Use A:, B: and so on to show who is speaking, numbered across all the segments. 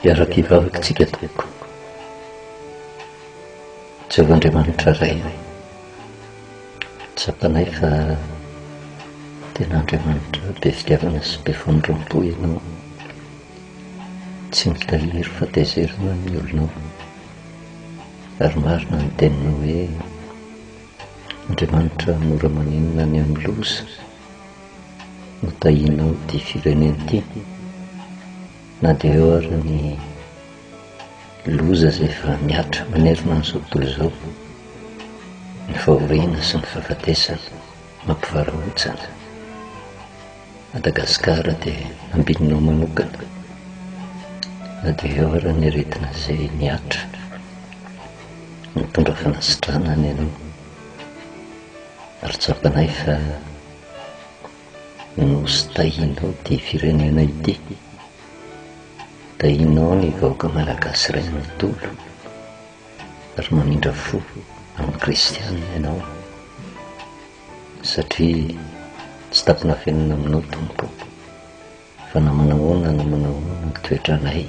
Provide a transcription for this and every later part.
A: Hiaraka hivavaka tsika tompoko. Jehovah Andriamanitra Ray, tsapanay fa tena Andriamanitra be fitiavana sy be famindram-po Ianao. Tsy mitahiry fahatezerana ny olonao. Ary marina ny teninao hoe Andriamanitra mora maninona any amin'ny loza no tahianao ity firenena ity na dia eo ary ny loza izay efa mihatra manerana an'izao tontolo izao ny fahoriana sy ny fahafatesana mampivarahontsana Madagascar de ambinina manokana na dehors ny aretina zay mihatra mitondra fanasitrana any anao ary tsapanay fa nosy tahinao ty firenena ity tahinao ny vahoaka malagasy ray manontolo ary mamindra fo amin'ny kristianina ianao Satria tsy tampin'afenina aminao Tompo fa na manahoana na manahoana ny toetranay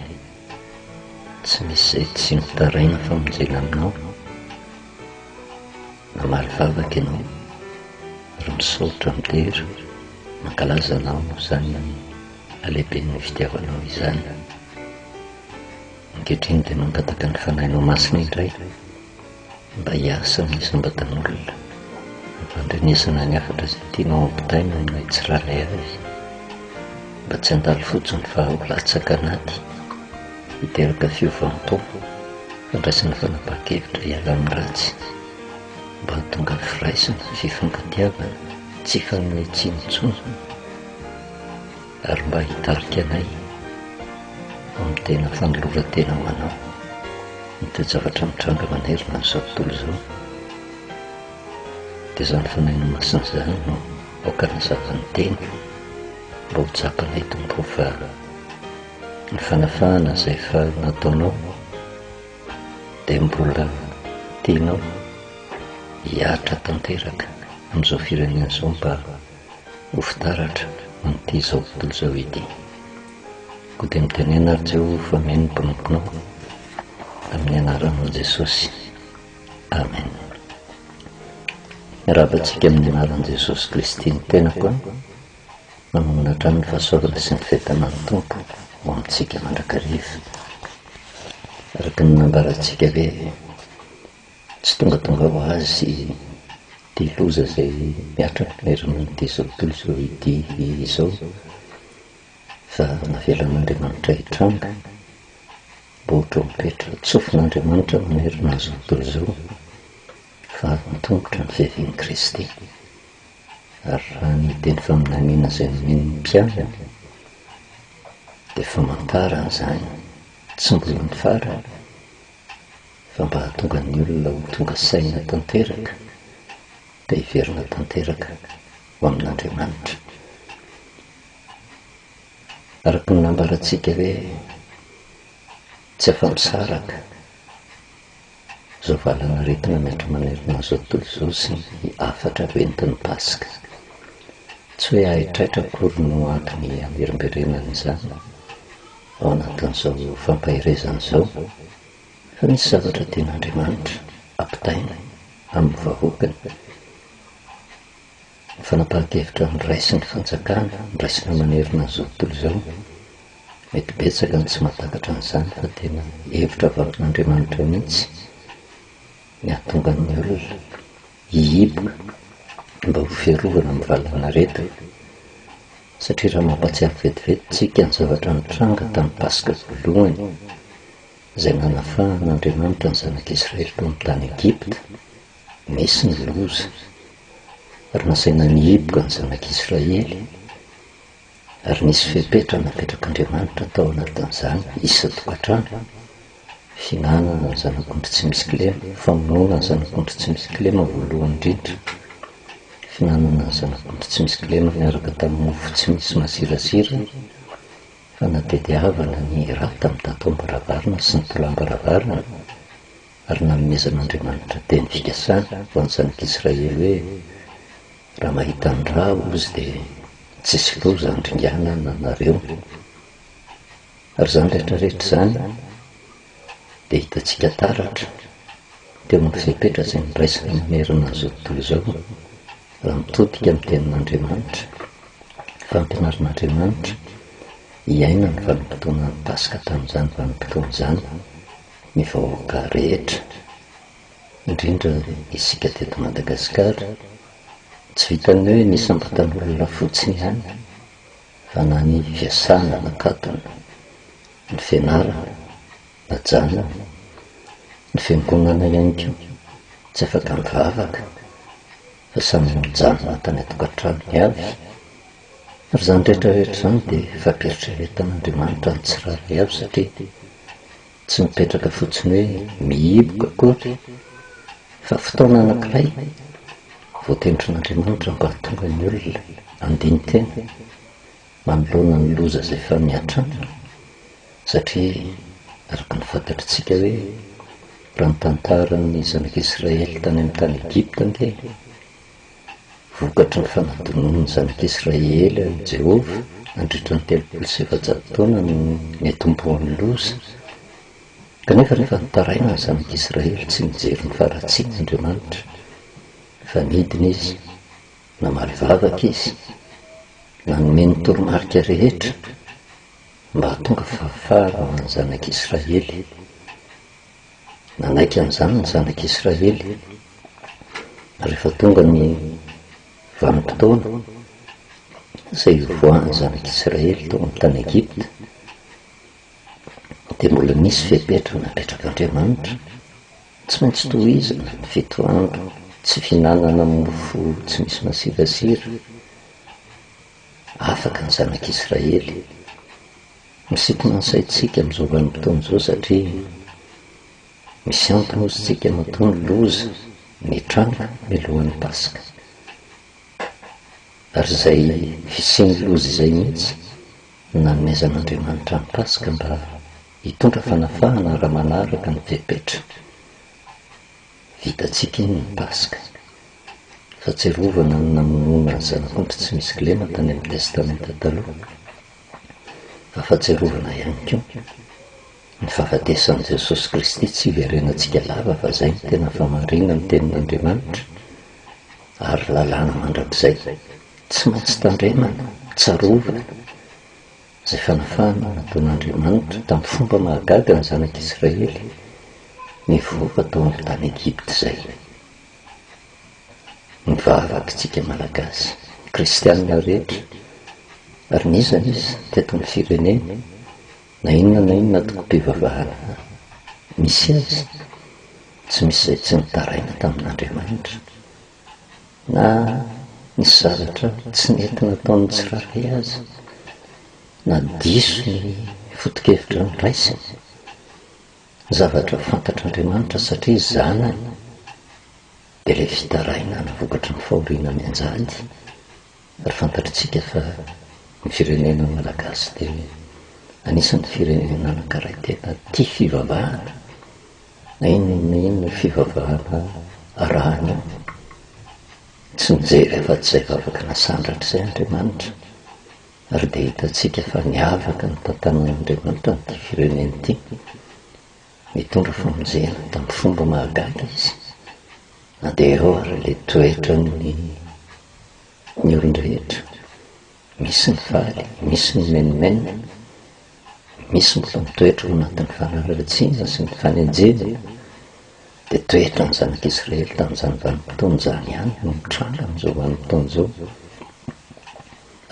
A: tsy misy izay tsy mitaraina famonjena aminao namaly vavaka ianao ary misaotra midera mankalaza anao izany alehiben'ny fitiavanao izany ankehitriny dia mangataka ny fanahinao masina indray Mba hiasa amin'ny isam-batan'olona, ampandrenesana ny hafatra izay tianao hampitaina ho an'ilay tsirairay avy. Mba tsy handalo fotsiny fa ho latsaka anaty, hiteraka fiovam-po, fandraisana fanapahan-kevitra hiala amin'ny ratsy. Mba hahatonga firaisana, fifankatiavana, tsy fanomezan-tsiny intsony. ary mba hitarika anay amin'ny tena fanoloran-tena ho Anao ny toe-javatra mitranga manerana an'izao tontolo izao, dia izany fanahy masina izany no aoka hanazava ny Teny mba ho tsapanay Tompo o, fa ny fanafahana izay efa nataonao dia mbola tianao hihatra tanteraka amin'izao firenena izao mba Ho fitaratra amin'ity izao tontolo izao ity. Koa dia mitenena ary Jehovah fa mino ny mpanomponao amin'ny anaranao Jesosy. Amen. Miarahaba antsika amin'ny anaran'i Jesosy Kristy ny tenako an. Manomana hatrany ny fahasoavana sy ny fentanan'ny Tompo ho amintsika mandrakariva. Araka ny nambarantsika ve Tsy tongatonga ho azy ity loza izay mihatra amin'ny fiverenan'ity izao tontolo izao ity izao, fa navelan'Andriamanitra hitranga, baoritra mipetra, tsofin'Andriamanitra manerana an'izao tontolo izao, fa avy an-tongotra ny fiavian'i Kristy. Ary raha ny teny faminaniana izay nomen'ny mpianany dia famantarana izany tsy mbola ny farany, fa mba hahatonga ny olona ho tonga saina tanteraka ka hiverina tanteraka ho amin'Andriamanitra. Araka ny nambarantsika hoe tsy afa-misaraka izao valan'aretina miatrika manerana izao tontolo izao sy ny hafatra avy entin'ny Paska. Tsy hoe haitraitra akory no antony hamerimberenana izany ao anatin'izao fampaherezana izao, Fa misy zavatra tian'Andriamanitra ampitaina amin'ny vahoakany. Ny fanapahan-kevitra niraisin'ny fanjakana niraisina manerana an'izao tontolo izao, mety betsaka ny tsy mahatakatra an'izany fa tena hevitra avy amin'Andriamanitra mihitsy ny hahatonga ny olona hihiboka mba ho fiarovana amin'ny valanaretina. Satria raha mampahatsiaro vetivety isika ny zavatra nitranga tamin'ny Paska voalohany, izay nanafahan' Andriamanitra ny Zanak' Israely tony tany Egypta, nisy ny loza, ary nasaina nihiboka ny Zanak' Israely, ary nisy fepetra napetrak' Andriamanitra tao anatin' izany isan-tokantrano, fihinanana ny zanak' ondry tsy misy kilema, famonoana ny zanak' ondry tsy misy kilema voalohany indrindra, fihinanana ny zanak' ondry tsy misy kilema niaraka tamin' ny mofo tsy misy mazirazira, fanatediavana ny raha tamin'ny tataom-baravarana sy ny tolàm-baravarana, ary nanomezan'Andriamanitra teny fikasana ho an'ny zanak'Israely hoe, Raha mahita ny ra, hozy, dia tsisy loza handringana anareo. Ary izany rehetra rehetra izany, dia hitantsika taratra teo amin'ny fepetra izay niraisana manerana izao tontolo izao raha mitodika amin'ny tenin'Andriamanitra, fampinarin'Andriamanitra hiaina ny vanim-potoanan'ny Paska tamin'izany vanim-potoana izany ny vahoaka rehetra, indrindra isika teto Madagasikara. Tsy vitan'ny hoe nisambatan'olona fotsiny ihany fa na ny fiasana, nakatona. ny fianarana, ajanony, ny fiangonana ihany koa tsy afaka mivavaka fa samy mijanona tany an-tokantranony avy, ary izany rehetra rehetra izany dia fampieritreretan'Andriamanitra ny tsirairay avy satria tsy mipetraka fotsiny hoe mihiboka akory fa fotoana anankiray voatendrin'Andriamanitra mba hahatonga ny olona handini-tena. manoloana ny loza izay efa miatranga satria araka ny fantatritsika hoe raha ny tantaran'ny zanak'Israely tany amin'ny tany Egypta ange vokatry ny fanadinoan'ny zanak'Israely an'i Jehovah nandritra ny telopolo sy efajato taona no niatombohan'ny loza. Kanefa rehefa nitaraina ny zanak'Israely tsy nijery ny faharatsian'Andriamanitra fa nidina izy Namaly vavaka izy, nanome ny toromarika rehetra mba hahatonga fahafahana ho an'ny Zanak'i Israely. Nanaiky an'izany ny Zanak'i Israely, rehefa tonga ny vanim-potoana izay hivoahan'ny Zanak'i Israely tao amin'ny tany Egypta, dia mbola nisy fepetra napetraka Andriamanitra Tsy maintsy tohizana ny fito andro tsy fihinanana mofo tsy misy masirasira. Afaka ny Zanak'Israely. Misintona ny saintsika amin'izao vanim-potoana izao satria misy antony hosintsika matoa ny loza nitranga mialohan'ny Paska. Ary izay fisian'ny loza izay mihitsy no nanomezan'Andriamanitra ny Paska mba Hitondra fanafahana raha manaraka ny fepetra. Vitantsika iny ny Paska. Fahatsiarovana ny namonoana ny Zanak'ondry tsy misy kilema tany amin'ny Testamenta Taloha, fa fahatsiarovana ihany koa ny fahafatesan'i Jesosy Kristy tsy hiverenantsika lava fa izay no tena fahamarinan'ny Tenin'Andriamanitra ary lalàna mandrakizay tsy maintsy tandremana, tsarovana. Izay fanafahana nataon'Andriamanitra tamin'ny fomba mahagaga ny zanak'Israely nivoaka tao amin'ny tany Egypta izay. Mivavaka isika Malagasy, Kristianina rehetra, ary n'iza n'iza teto amin'ny firenena, na inona na inona antokom-pivavahana misy azy, tsy misy izay tsy nitaraina tamin'Andriamanitra. na ny zavatra tsy nety nataon'ny tsirairay aza, na diso ny foto-kevitra noraisiny, zavatra fantatr'Andriamanitra satria zanany, dia ilay fitarainana vokatry ny fahoriana mianjady, ary fantatritsika fa ny firenena Malagasy dia anisan'ny firenena nanankaray tena tia fivavahana na inona na inona io fivavahana arahany io. Tsy nijery afa-tsy izay vavaka nasandratra izay Andriamanitra, ary dia hitantsika fa niavaka ny tantanan'Andriamanitra amin'ity firenena ity. Nitondra famonjena tamin'ny fomba mahagaga izy, na dia ireo ary ilay toetran'ny ny olon-drehetra, misy ny faly, misy ny menomenona, misy mbola mitoetra ao anatin'ny fanaratsiana sy ny fanenjehana, dia toetran'ny zanak'Israely tamin'izany vanim-potoana izany ihany no mitranga amin'izao vanim-potoana izao,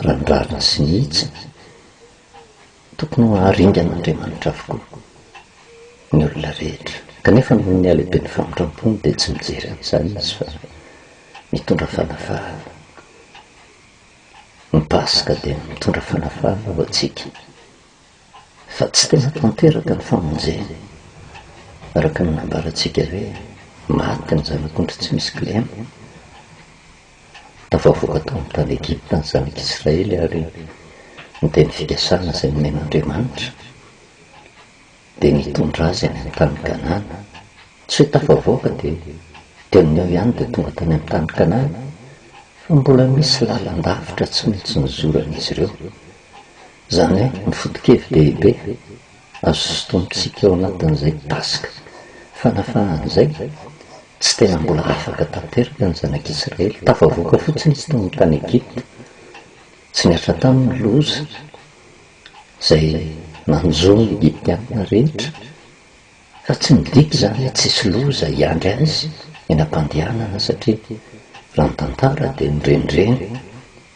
A: raha ny rariny sy ny hitsiny. Tokony ho haringan'Andriamanitra avokoa ny olona rehetra. Kanefa noho ny halehiben'ny famindram-pony dia tsy mijery an'izany izy fa mitondra fanafahana. Ny Paska dia mitondra fanafahana ho antsika, fa tsy tena tanteraka ny famonjena, araka ny nambarantsika hoe, Maty ny zanak'ondry tsy misy kilema, Tafavoaka tao amin'ny tany Egypta ny zanak'Israely ary ny teny fikasana izay nomen'Andriamanitra dia ny hitondra azy any amin'ny tany Kanana. Tsy hoe tafavoaka dia dieny eo ihany dia tonga tany amin'ny tany Kanana fa mbola misy lalan-davitra tsy maintsy nozoran'izy ireo. Izany hoe ny foto-kevin-dehibe. Azosintonintsika ao anatin'izay Paska fanafahana izay, tsy tena mbola afaka tanteraka ny Zanak'Isiraely. Tafavoaka fotsiny izy tao amin'ny tany Egypta. Tsy niasa taminy ny loza izay nanjo ny Egyptiana rehetra, fa tsy midika izany hoe tsisy loza hiandry azy eny am-pandehanana, satria raha ny tantara dia nirendreny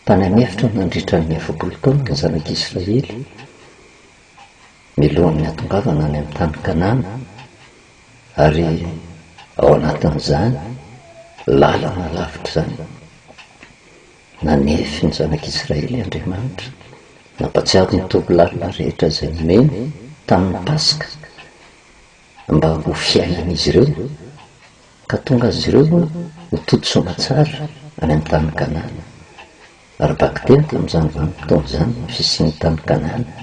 A: tany an'efitra nandritra ny efapolo taona ny Zanak'Isiraely. milohan'ny hatongavana any amin'ny tany Kanana, ary ao anatin'izany lalana lavitra izany, nanefy ny zanak'Israely Andriamanitra, nampatsiaro ny toby lalina rehetra izay nomeny tamin'ny Paska mba ho fiainan'izy ireo, ka tonga azy ireo ho tontosoa aman-tsara any amin'ny tany Kanana. Ary baka teny tamin'izany vanim-potoana izany ny fisian'ny tany Kanana,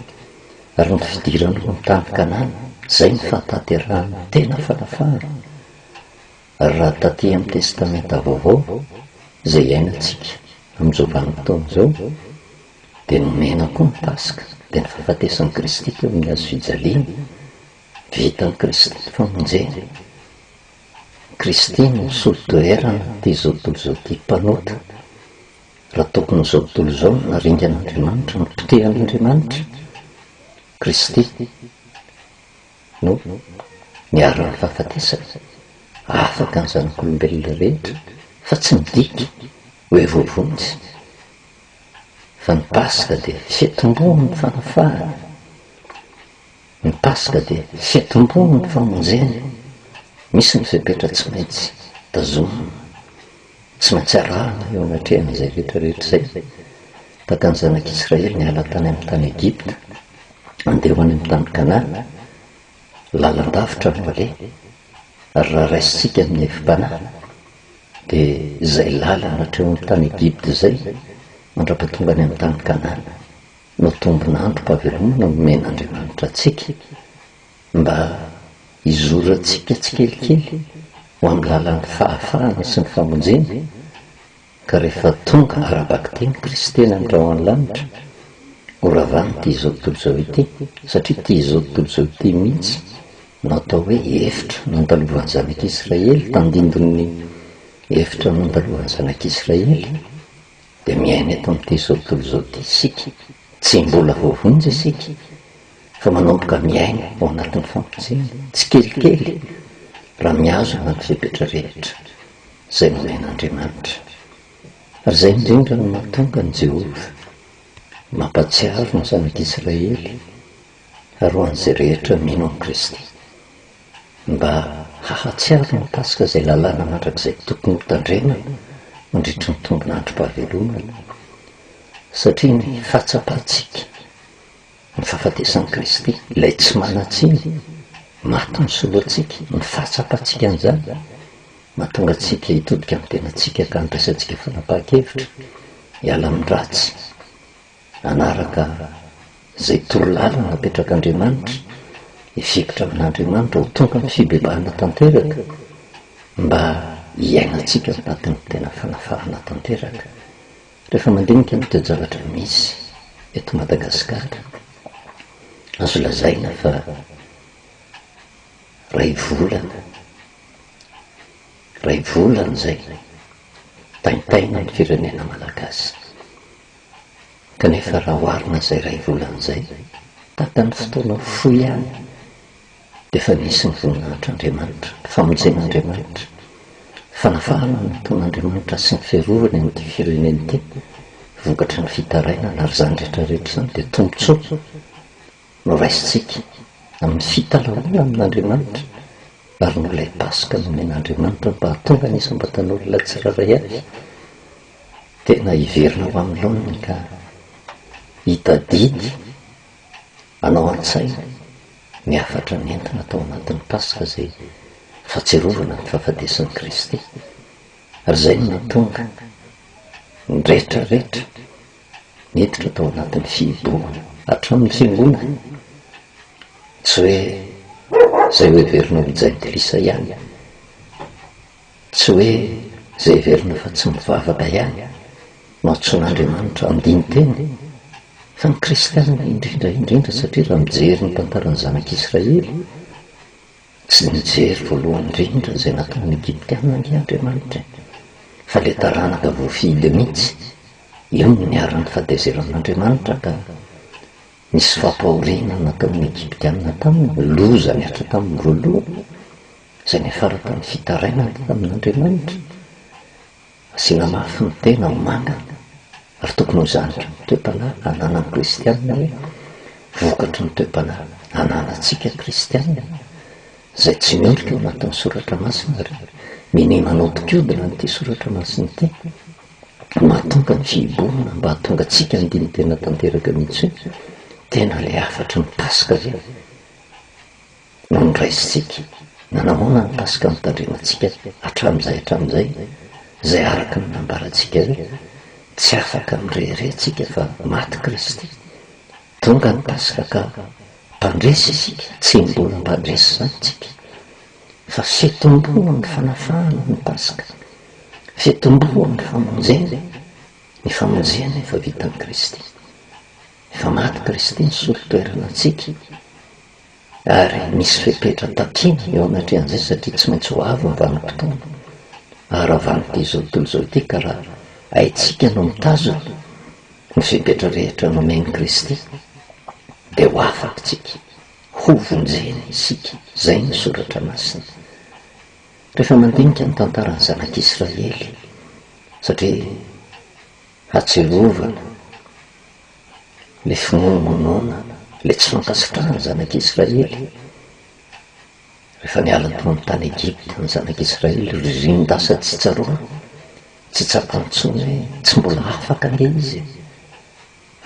A: ary ny fidirany ho ny tany Kanana, izay no fahatanterahan'ny tena fanafahana, ary raha taty amin'ny Testamenta Vaovao izay iainantsika amin'izao vanim-potoana izao, dia nomena koa ny Paska, dia ny fahafatesan'i Kristy teo amin'ny hazofijaliana, vitan'i Kristy ny famonjena. Christine misolo toerana ity izao tontolo izao ity mpanota, raha tokony izao tontolo izao no naringan'Andriamanitra, nopotehan'Andriamanitra, Christine no niharan'ny fahafatesana, afaka ny zanak'olombelona rehetra fa tsy midika hoe voavonjy, fa ny Paska dia fiatombohan'ny fanafahana, Ny Paska dia fitomboan' ny famonjena. Misy ny fepetra tsy maintsy tazomina, tsy maintsy arahina eo anatrehan' izay rehetra rehetra izay baka ny Zanak' Israely niala tany amin' ny tany Egipta handeha ho any amin' ny tany Kanana, lalan-davitra no aleha, ary raha raisintsika amin' ny hevi-panahy dia izay lalana hatreo amin' ny tany Egipta izay mandra-pahatonga any amin' ny tany Kanana. no tombin'androm-pahavelomana nomen'Andriamanitra antsika mba hizorantsika tsikelikely ho amin'ny lalan'ny fahafahana sy ny famonjena, ka rehefa tonga ara-bakiteny kristiana ny ra ao an-lanitra, horavàn'ity izao tontolo izao ity, satria ity izao tontolo izao ity mihitsy no atao hoe efitra nandalovan'ny zanak'Israely, tandindon'ny efitra nandalovan'ny zanak'Israely. dia miaina eto amin'ity izao tontolo izao ity isika, tsy mbola voavonjy isika fa manomboka miaina ao anatin'ny fampoizehana tsikelikely raha mihazona ny fepetra rehetra izay nomen'Andriamanitra. Ary izay indrindra no mahatonga an'i Jehovah mampahatsiaro ny zanak'Israely ary ho an'izay rehetra mino an'i Kristy, mba hahatsiaro ny mikasika izay lalàna mandrakizay tokony hotandremana mandritry ny tombin'androm-pahavelomana, satria ny fahatsapantsika ny fahafatesan'i Kristy, ilay tsy manan-tsiny, maty misolo antsika, ny fahatsapantsika an'izany, mahatonga antsika hitodika amin'ny tenantsika ka handraisantsika fanapahan-kevitra hiala amin'ny ratsy. Hanaraka izay torolalana napetrak'Andriamanitra, hifikitra amin'Andriamanitra ho tonga ny fibebahana tanteraka, mba hiainantsika ao anatin'ny tena fanafahana tanteraka. Rehefa mandinika ny toe-javatra misy eto Madagasikara, azo lazaina fa ray volana, ray volana izay taintaina ny firenena malagasy. kanefa raha oharina izay iray volana izay, takan'ny fotoana fohy ihany dia efa nisy ny voninahitr'Andriamanitra, ny famonjen'Andriamanitra, ny fanavahana ny nataon'Andriamanitra sy ny fiarovany an'ity firenena ity vokatry ny fitarainana ary izany rehetra rehetra izany dia tombontsoa. noraisintsika amin'ny fitalahoana amin'Andriamanitra ary noho ilay Paska nomen'Andriamanitra mba hahatonga ny isam-batan'olona tsirairay avy tena hiverina ho amin'ny laoniny ka hitadidy hanao an-tsaina ny hafatra nentina tao anatin'ny Paska izay fahatsiarovana ny fahafatesan'i Kristy ary izay no nahatonga ny rehetra rehetra niditra tao anatin'ny fihibohana. Hatramin'ny fiangonana, tsy hoe izay hoheverina ho jentilisa ihany, tsy hoe izay heverina fa tsy mivavaka ihany no antsoin'Andriamanitra andinin-tena, fa ny kristiana indrindra indrindra, satria raha mijery ny tantaran'ny zanak'Israely, Tsy nijery voalohany indrindra izay nataon'ny Egyptiana ange Andriamanitra e! Fa ilay taranaka voafidy mihitsy, io no niharan'ny fatezeran'Andriamanitra ka nisy fampahoriana nataon'ny Egyptiana taminy, loza nihatra taminy voalohany, izay niafara tamin'ny fitarainany tamin'Andriamanitra. Asina mafy ny tena ho manga ary tokony ho zanaky ny toe-panahy ananan'ny kristianina hoe vokatry ny toe-panahy ananantsika kristianina izay tsy miondrika ao anatin'ny soratra masina ary minia manodikodina an'ity soratra masina ity no mahatonga ny fihibohana mba hahatongatsika handiny tena tanteraka mihitsy hoe tena ilay hafatry ny paska ve no noraisintsika, na nahoana ny Paska notandremantsika hatramin'izay hatramin'izay, izay araka ny nambarantsika hoe, tsy afaka mirehareha tsika fa maty Kristy, tonga ny Paska ka mpandresy isika, tsy mbola mpandresy izany tsika, fa fitomboan ny fanafahana ny Paska, fitomboan ny famonjena, ny famonjena efa vitan'i Kristy, efa maty Kristy nisolo toerana antsika, ary misy fepetra takiana eo anatrehan'izay satria tsy maintsy ho avy ny vanim-potoana ary raha vanim-pitia izao tontolo izao ity ka raha haitsika no mitazona ny fepetra rehetra nomen'i Kristy dia ho afaka isika, hovonjena isika, izay ny Soratra Masina. Rehefa mandinika ny tantaran'ny zanak'Israely satria hatsiarovana. le finoana nonoana, le tsy fankasitrahana ny zanak'Israely, rehefa niala tao amin'ny tany Egypta ny zanak'Israely, ry renin-dasa tsy tsaroana, tsy tsapany intsony hoe tsy mbola afaka ange izy e!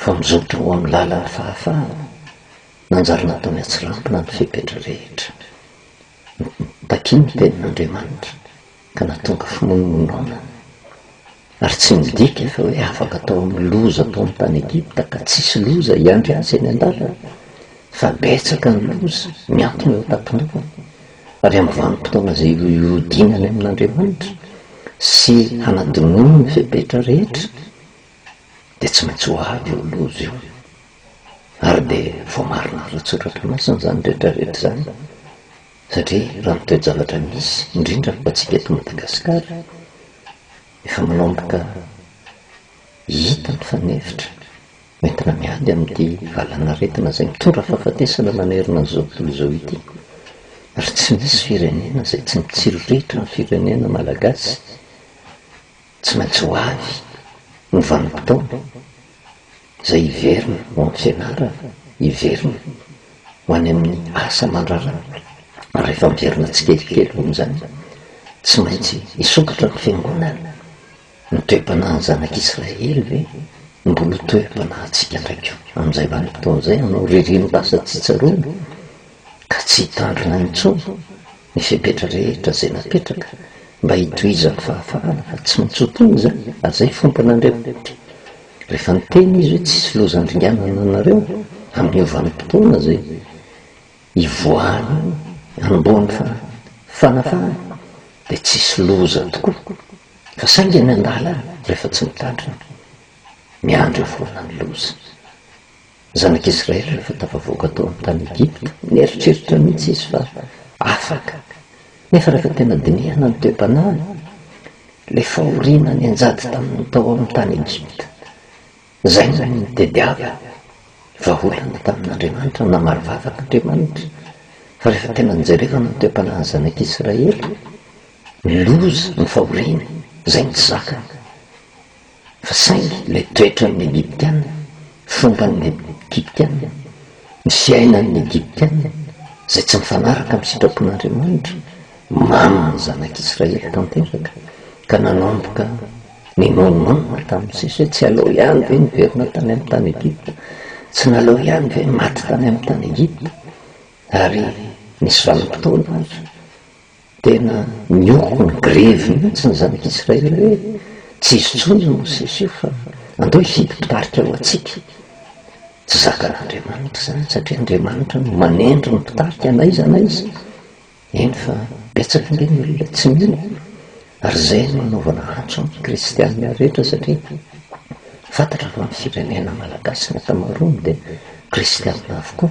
A: fa mizotra ho amin'ny lalan'ny fahafahana, nanjary nataony hatsirambina ny fepetra rehetra. Takiany ny tenin'Andriamanitra, ka nahatonga fimonomonona ary tsy midika fa hoe afaka tao amin'ny loza ataony tany Egypta ka tsisy loza hiandry azy eny an-dalana fa betsaka ny loza miantona eo an-tampon-dohany ary amin'ny vanim-potoana izay hihodinany amin'Andriamanitra sy hanadinoany ny fepetra rehetra dia tsy maintsy ho avy io loza io ary dia voamarina ara-tsoratra masina izany rehetra rehetra izany Satria raha ny toe-javatra misy, indrindra fa antsika eto Madagasikara, efa manomboka hita ny fanefitra entina miady amin'ity valanaretina izay mitondra fahafatesana manerana an'izao tontolo izao ity, ary tsy misy firenena izay tsy mitsiriritra ny firenena malagasy. Tsy maintsy ho avy ny vanim-potoana izay hiverina ho am-pianarana, hiverina ho any amin'ny asa aman-drarany. Rehefa miverina tsikelikely hoan'izany, tsy maintsy hisokatra ny Fiangonana. Ny toe-panahin'ny zanak'Israely ve mbola ho toe-panahintsika indray koa amin'izay vanim-potoana izay, hanao ririnina asa tsy tsaroana ka tsy hitandrina intsony Ny fepetra rehetra izay napetraka mba hitohizan'ny fahafahana fa tsy maintsy ho tony izany ary izay fiompinan'ireo mpitia. Rehefa niteny izy hoe tsisy loza handringanana anareo amin'ny ho vanim-potoana izay hivoahan'ny hanombohan'ny fanafahana dia tsisy loza tokoa fa saingy any an-dalana rehefa tsy mitandrina miandry eo foana ny loza. Zanak'Israely rehefa tafavoaka tao amin'ny tany Egypta, nieritreritra mihitsy izy fa afaka. Nefa rehefa tena dinihana ny toe-panahiny, ilay fahoriana nianjady taminy tao amin'ny tany Egypta, izay no nitediavany vahaolana tamin'Andriamanitra. Namaly vavaka Andriamanitra fa rehefa tena nijerevana ny toe-panahin'ny zanak'Israely, ny loza, ny fahoriana, izay no tsy zakany. Fa saingy ilay toetran'ny Egyptiana, fomban'ny Egyptiana, ny fiainan'ny Egyptiana, izay tsy mifanaraka amin'ny sitrapon'Andriamanitra, mamy ny zanak'Israely tanteraka, ka nanomboka ninoanoanina tamin'ny sisa hoe, Tsy aleo ihany ve niverina tany amin'ny tany Egypta? Tsy naleo ihany ve maty tany amin'ny tany Egypta? Ary nisy vanim-potoana aza, Tena nioko ny grevy mihitsy izany mpisraely hoe tsy hisy intsony io mosesy io fa andao hifidy mpitarika ho antsika. Tsy zakan'Andriamanitra izany satria Andriamanitra no manendry ny mpitarika n'aiza n'aiza. Eny fa betsaka ange ny olona tsy mino ary izay no anaovana antso amin'ny kristianina rehetra satria fantatra fa ny firenena malagasy ny ankamaroany dia kristianina avokoa.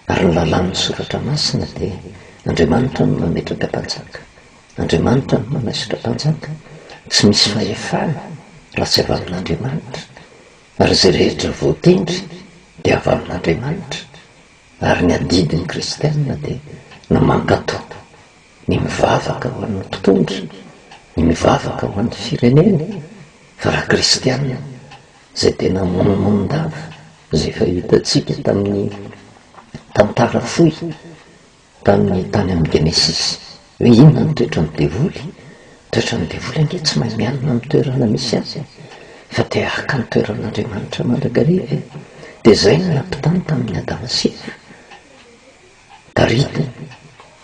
A: Ary ny lalàn'ny Soratra Masina dia, Andriamanitra no mametraka mpanjaka. Andriamanitra no manaisotra mpanjaka. Tsy misy fahefana raha tsy avy amin'Andriamanitra. Ary izay rehetra voatendry dia avy amin'Andriamanitra. Ary ny adidin'ny kristiana dia ny mankatò, ny mivavaka ho an'ny mpitondra, ny mivavaka ho an'ny firenena, fa raha kristiana, izay tena monomonon-dava izay efa hitantsika tamin'ny tantara fohy tamin'ny tany amin'ny Genesisy. Hoe inona ny toetran'ny devoly? Ny toetran'ny devoly ange tsy mahay mialona amin'ny toerana misy azy fa te haka ny toeran'Andriamanitra mandrakariva e. Dia izay no nampitany tamin'ny Adama sy Eva. Tarika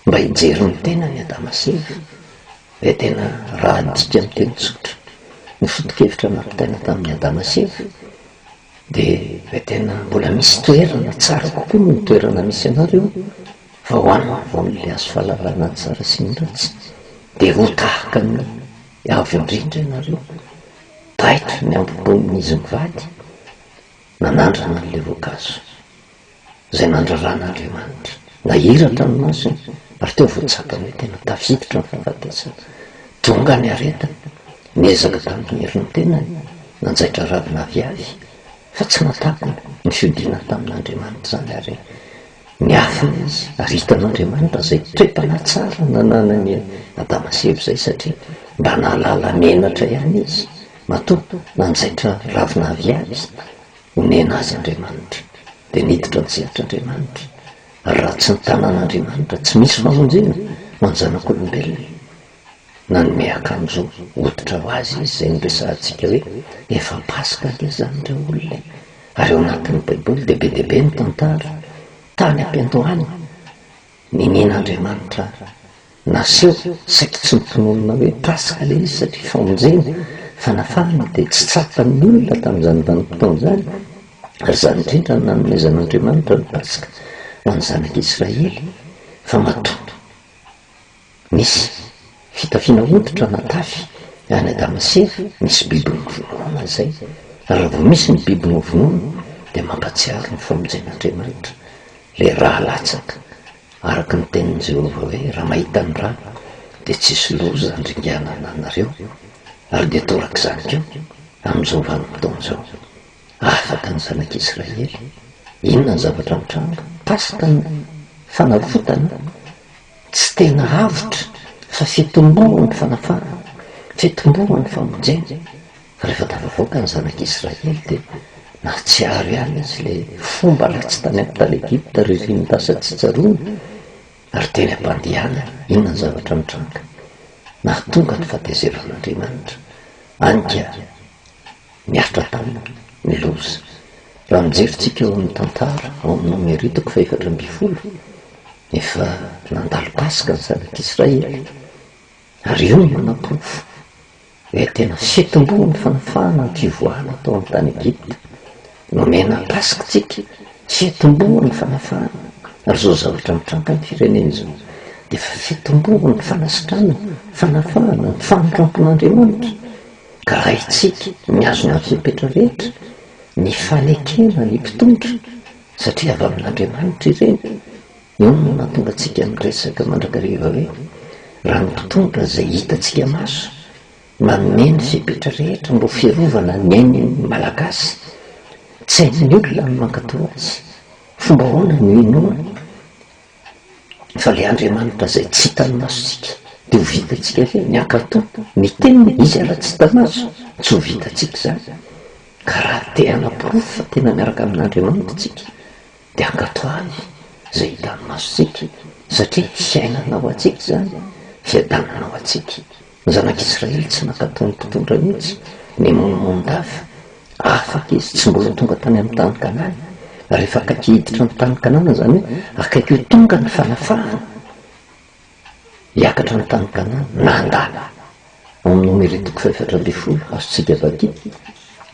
A: mba hijery ny tenany Adama sy Eva dia tena raha adika amin'ny teny tsotra ny foto-kevitra nampitaina tamin'ny Adama sy Eva dia tena mbola misy toerana tsara kokoa noho ny toerana misy anareo fa ho an'ny vaon'ilay azo fahalalana ny tsara sy ny ratsy dia ho tahaka ny avo indrindra ianareo taitra ny ambobonin'izy mivady nanandrana an'ilay voankazo izay nandraran'Andriamanitra. Nahiratra ny masony ary teo vao tsapany hoe tena tafiditra ny fahafatesana. Tonga ny aretina, niezaka tamin'ny herin'ny tenany nanjaitra ravina avy avy, fa tsy nahatapany ny fiodiana tamin'Andriamanitra izany ary niafina izy ary hitan'Andriamanitra izay toe-panahy tsara nananan'i Adama sy Eva izay satria mba nahalala menatra ihany izy matoa nanjaitra ravina avy avy. Onena azy Andriamanitra, dia niditra an-tsehatra Andriamanitra, ary raha tsy ny tanan'Andriamanitra, tsy misy famonjena ho an'ny zanak'olombelona. Nanome akanjo hoditra ho azy Izy, izay noresahantsika hoe efa Paska anie izany ireo olona e! Ary ao anatin'ny Baiboly dia be dia be ny tantara, tany am-piandohana, ninian'Andriamanitra Naseho saiky tsy mitononona hoe paska ilay izy satria famonjena, fanafahana dia tsy tsapan'ny olona tamin'izany vanim-potoana izany ary izany indrindra no nanomezan'Andriamanitra ny paska ho an'ny zanaka Israely fa matoa nisy fitafiana hoditra natafy any Adama sy Eva nisy biby novonoina izay ary raha vao misy ny biby novonoina dia mampatsiaro ny famonjen'Andriamanitra ilay raha latsaka Araka ny tenin'i Jehovah hoe, Raha mahita ny rà, dia tsy hisy loza handringana anareo, ary dia toraka izany koa amin'izao vanim-potoana izao. Afaka ny zanak'i Israely. Inona ny zavatra mitranga? Tasta ny fanavotana? Tsy tena avotra, fa fitomboan'ny fanafahana, fitomboan'ny famonjena. Rehefa tafavoaka ny Zanak'i Israely dia nahatsiaro ihany izy ilay fomba ratsy tany amin'ny tany Egypta ririnin'ny lasa tsy tsaroany ary teny am-pandehanany. Inona ny zavatra nitranga? Nahatonga ny fahatezeran'Andriamanitra any dia niaritra taminy ny loza. Raha mijery tsika ao amin'ny tantara ao amin'ny Nomery toko fahefatra ambin'ny folo, efa nandalo Paska ny Zanak'i Israely ary io no manaporofo. Dia tena sitombo ny fanafahana an-kivoala tao amin'ny tany Egypta. Nomena Paska isika, sitombo ny fanafahana. Ary izao zavatra mitranga amin'ny firenena izao, dia efa sitombo ny fanasitranana, fanafahana, ny famindrampon'Andriamanitra. Ka raha isika mihazona ny fepetra rehetra, ny fanekena ny mpitondra, satria avy amin'Andriamanitra ireny, Inona no mahatonga antsika miresaka mandrakariva hoe raha ny mpitondra izay hitantsika maso manome ny fepetra rehetra mba ho fiarovana ny ain'ny Malagasy? Tsy hain'ny olona ny mankatò azy. Fomba ahoana no inoany fa ilay Andriamanitra izay tsy hitan'ny masontsika dia ho vitantsika ve ny hankatò ny teniny? Izy ary tsy hita maso, tsy ho vitantsika izany. Ka raha te-hanaporofo fa tena miaraka amin'Andriamanitra isika Dia ankatò any izay hitan'ny masontsika, satria fiainana ho antsika izany, fiadanana ho antsika. Ny zanak'Israely tsy nankatò ny mpitondra mihitsy, nimonomonon-dava. Afaka izy, tsy mbola tonga tany amin'ny tany Kanana. Rehefa akaiky hiditra ny tany Kanana, izany hoe akaiky ho tonga ny fanafahana. hiakatra ny tany Ghana nanda ao amin'ny nomeritoky fahefatra ambin'ny folo azo tsy debaty,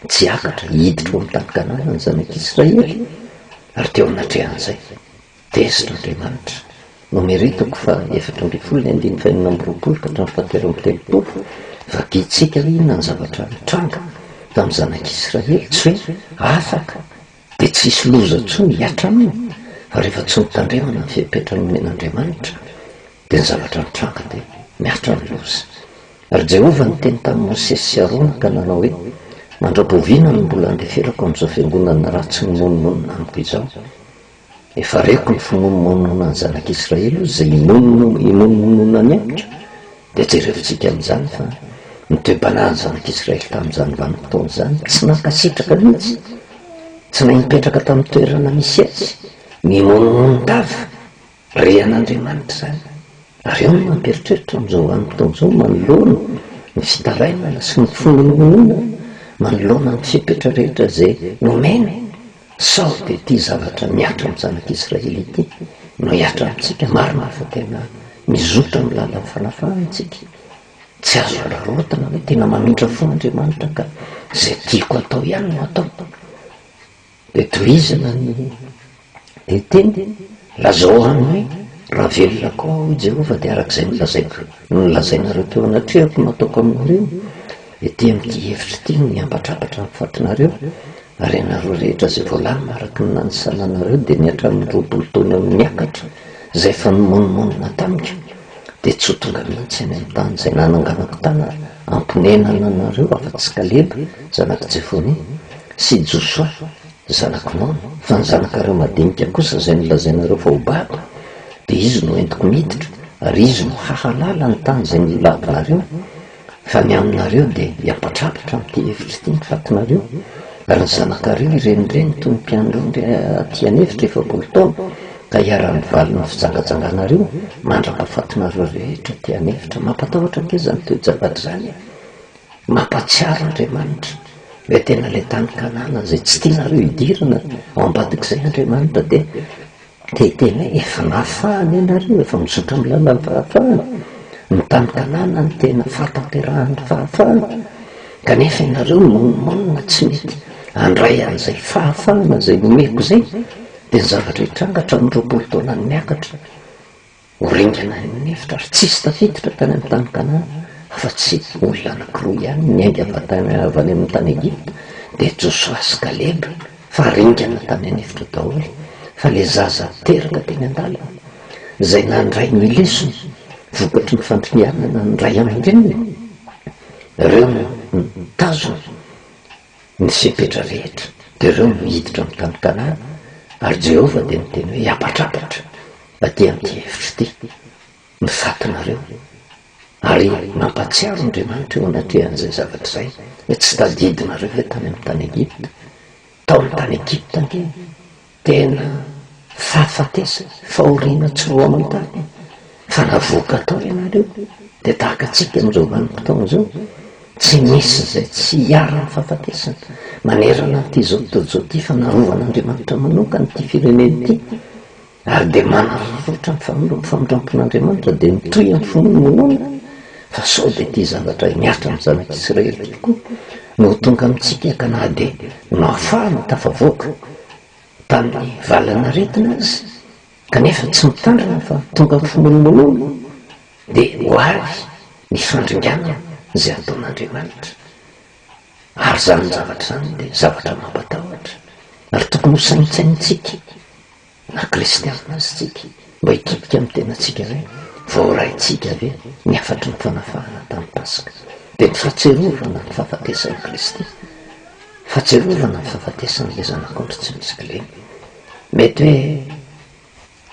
A: tsy hiakatra hiditra ao amin'ny tany Ghana ny zanak'Israely ary teo anatrehan'izay tezitra Andriamanitra, nomeritoky fahefatra ambin'ny folo ny andininy fahenina amby roapolo ka hatramin'ny fahatelo amby telopolo, vadintsika ve inona ny zavatra nitranga tamin'ny zanak'Israely? tsy hoe afaka. Dia tsy hisy loza intsony hihatra aminy fa rehefa tsy mitandremana ny fepetra nomen'Andriamanitra dia ny zavatra mitranga dia mihatra ny loza. Ary Jehovah niteny tamin'i Mosesy sy Arona ka nanao hoe, Mandra-boviana no mbola handeferako an'izao fiangonana ratsy mimonomonona amiko izao? Efa reko ny fimonomononan'ny zanak'Israely izay imonomononany amiko. Dia jereventsika amin'izany fa ny toe-panahin'ny zanak'Israely tamin'izany vanim-potoana izany tsy nankasitraka mihitsy. Tsy nahay nipetraka tamin'ny toerana misy etsy, nimonomonon-tava re an'Andriamanitra izany. Ary ao no mampieritreritra amin'izao vanim-potoana izao manoloana ny fitarainana sy ny finoanoana manoloana ny fepetra rehetra izay nomeny. Sao dia ity zavatra mihatra amin'ny zanak'Israely ity no hihatra amintsika? Marina fa tena mizotra amin'ny lalan'ny fanafahana isika. Tsy azo hararaotina hoe tena mamintra fo Andriamanitra ka izay tiako atao ihany no ataoko. Dia tohizana ny dia teny, lazao aminy hoe raha velona koa aho, hoy Jehovah, dia araka izay nolazaiko, nolazainareo teo anatrehako no ataoko aminareo. Ety amin'ity efitra ity no miambatrabatra ny fatinareo. Ary ianareo rehetra izay voalamina araka ny nanisananareo, dia ny hatramin'ny roapolo taona eo no niakatra, izay efa nimonomonona tamiko, dia tsy ho tonga mihitsy any amin'ny tany izay nananganako tany hamponenana anareo afa-tsy Kaleba zanak'i Jefonia, sy Josoa zanak'i Nona, fa ny zanakareo madinika kosa izay nolazainareo fa ho babo, dia izy no entiko miditra, ary izy no hahalala ny tany izay nolavinareo, Fa ny aminareo dia hiapatrapotra amin'ity efitra ity ny fatinareo, ary ny zanakareo hirenireny toy ny mpianondry aty an'efitra efapolo taona, ka hiara-mivaly ny fijangajanganareo mandraka fatinareo rehetra aty an'efitra. Mampatahotra ange izany toe-javatra izany e! Mampahatsiaro Andriamanitra hoe tena ilay tany Kanana izay tsy tianareo hidirana, ao ambadik'izay Andriamanitra dia Dia tena efa nahafahany ianareo, efa mizotra amin'ny lalan'ny fahafahana, ny tany Kanana no tena fahatanterahan'ny fahafahana, kanefa ianareo nomaninina tsy mety handray an'izay fahafahana izay nomeko izay, dia ny zavatra hitranga hatramin'ny roapolo taonany miakatra. Ho ringana any amin'ny efitra ary tsisy tafiditra tany amin'ny tany Kanana afa-tsy olona anankiroa ihany niainga avy any amin'ny tany Egypta, dia Josoa sy Kaleba, fa ringana tany an'efitra daholo, fa ilay zaza teraka teny an-dalana, izay nandray ny lesona vokatry ny fandringanana ny ray aman-dreniny, ireo no nitazona Ny fepetra rehetra dia ireo no hiditra amin'ny tany Kanana, ary Jehovah dia niteny hoe, Habatrabatra aty amin'ity efitra ity ny fatinareo. Ary nampahatsiaro Andriamanitra eo anatrehan'izay zavatra izay hoe, Tsy tadidinareo ve tany amin'ny tany Egypta? Tao amin'ny tany Egypta ange Tena fahafatesana, fahoriana tsy roa aman-tany fa raha voaka tao ianareo dia tahaka antsika amin'izao vanim-potoana izao, tsy misy izay tsy iharan'ny fahafatesana manerana an'ity izao tontolo izao ity fa narovan'Andriamanitra manokana ity firenena ity ary dia manararaotra ny famindrampon'Andriamanitra dia mitohy amin'ny finoana minoana fa sao dia ity zavatra mihatra amin'ny zanak'Israely ity koa no ho tonga amintsika ka na dia nahafahana tafavoaka tamin'ny valan'aretina aza kanefa tsy mitandrina fa tonga mifimolonolona dia ho avy ny fandringanana izay ataon'Andriamanitra ary izany zavatra izany dia zavatra mampatahotra ary tokony ho saintsainintsika na kristiana aza isika. Mba hikipika amin'ny tenantsika izay voaraintsika ve ny hafatry ny fanafahana tamin'ny Paska? Dia ny fahatsiarovana ny fahafatesan'i Kristy, fahatsiarovana ny fahafatesan'ilay Zanak'ondry tsy misy kilema. Mety hoe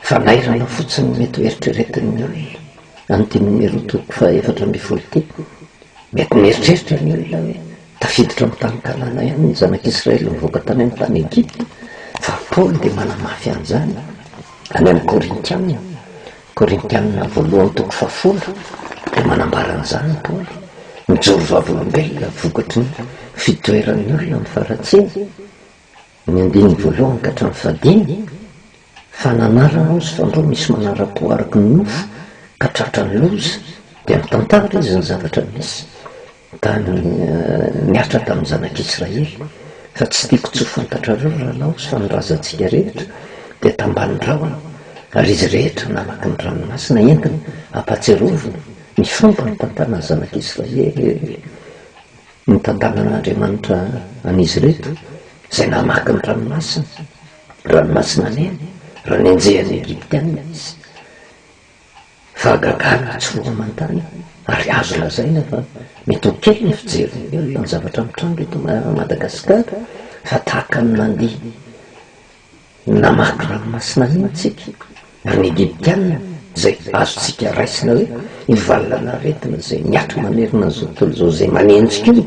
A: fanairana fotsiny ny mety ho eritreretin'ny olona an'ity nomerotoko fahaefatra ambin'ny folo ity. Mety mieritreritra ny olona hoe Tafiditra amin'ny Tany Kananaian'ny ny Zanak'Israely nivoaka tany amin'ny tany Egypta, fa Paoly dia manamafy an'izany any amin'ny Korintiana, Korintiana voalohany toko fahafolo, dia manambara an'izany Paoly, mijoro vavolombelona vokatry ny fitoeran'ny olona amin'ny faharatsiana, ny andininy voalohany ka hatramin'ny fahadimy, fa nanarana aho sy fandroa misy manara-po araka ny nofo ka tratran'ny loza, dia mitantara izy ny zavatra misy. Da niaritra tamin'ny zanak'Israely, fa tsy tiako tsy ho fantatrareo raha naozy fa ny razantsika rehetra dia tambanin'ny rahona, ary izy rehetra namaky ny ranomasina entiny hampatsiarovina ny fomba nitantanan'ny zanak'Israely nitantanan'Andriamanitra an'izy ireto, izay namaky ny ranomasina, ranomasina neny, raha nenjehan'ny Egyptiana izy, Fahagagana tsy roa aman-tany ary azo lazaina fa mety ho kely ny fijerin'ny olona ny zavatra mitranga eto Madagasikara fa tahaka ny nandihy namaky ranomasina mihitsy isika ary ny Egyptiana izay azontsika raisina hoe io valin'aretina izay miato manerana an'izao tontolo izao izay manenjika io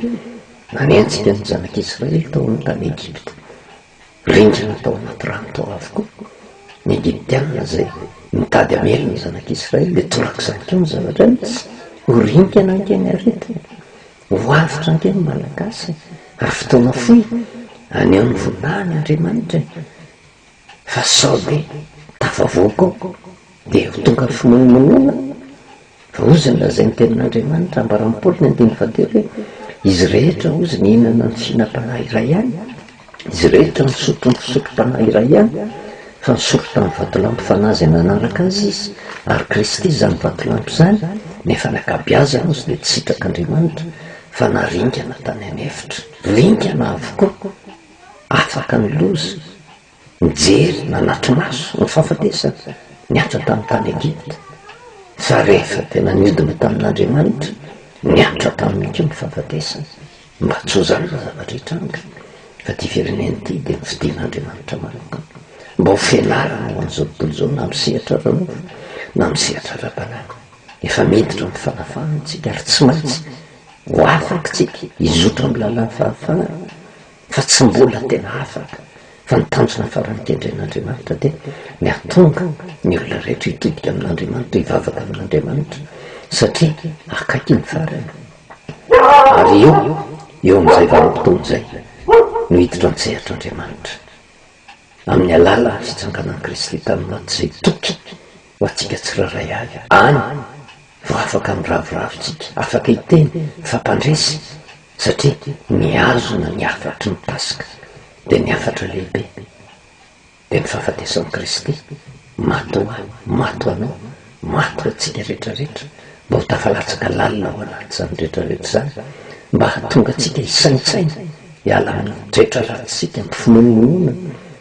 A: nanenjika ny zanak'Israely tao amin'ny tany Egypta. Rindrina tao anaty rano tao avokoa ny Egyptiana izay nitady hamely ny zanak'Israely, dia torak'izany koa ny zavatra nisy. Ho rinkana ange ny aretina, ho avotra ange ny Malagasy, ary fotoana fohy haneho ny vonahin' Andriamanitra e! Fa sao dia tafavoaka ao. Dia ho tonga finoanonoana raozina izay ny tenin'Andriamanitra, ambaran'i Paoly ny andininy fahatelo hoe, Izy rehetra hozy nihinana ny fihinam-panahy iray ihany, izy rehetra nisotro ny fisotrom-panahy iray ihany, fa nisotro tamin'ny vatolampy fanahy izay nanaraka azy izy, ary Kristy izany vatolampy izany, nefa ny ankabeazany hozy dia tsy sitrak'Andriamanitra, fa naringana tany an'efitra. Ringana avokoa, afaka ny loza, nijery nanatri-maso ny fahafatesana niatra tamin'ny tany Egypta, fa rehefa tena niodina tamin'Andriamanitra, niatra taminy koa ny fahafatesana, mba tsy ho zara ny zavatra hitranga, fa ity firenena ity dia nofidin'Andriamanitra manokana, mba ho fianarana ho an'izao tontolo izao na amin'ny sehatra ara-nofo na amin'ny sehatra ara-panahy. Efa miditra amin'ny fanafahana isika ary tsy maintsy ho afaka isika hizotra amin'ny lalàn'ny fahafahana fa tsy mbola tena afaka, fa ny tanjona farany kendren'Andriamanitra dia ny hahatonga ny olona rehetra hitodika amin'Andriamanitra, hivavaka amin'Andriamanitra, satria akaiky ny farany, ary eo, eo amin'izay vanim-potoana izay no hiditra an-tsehatr'Andriamanitra. amin'ny alalan'ny fitsanganan'i Kristy tamin'ny maty izay toky ho antsika tsirairay avy. Any vao afaka miraviravy isika, afaka hiteny fa mpandresy, satria mihazona ny hafatry ny Paska, dia ny hafatra lehibe dia ny fahafatesan'i Kristy. Maty ho ahy, maty ho anao, maty ho antsika rehetra rehetra, mba ho tafalatsaka lalina ao anatin'izany rehetra rehetra izany, mba hahatonga antsika hisaintsaina, hiala amin'ny toetra ratsitsika, amin'ny finoanonoana,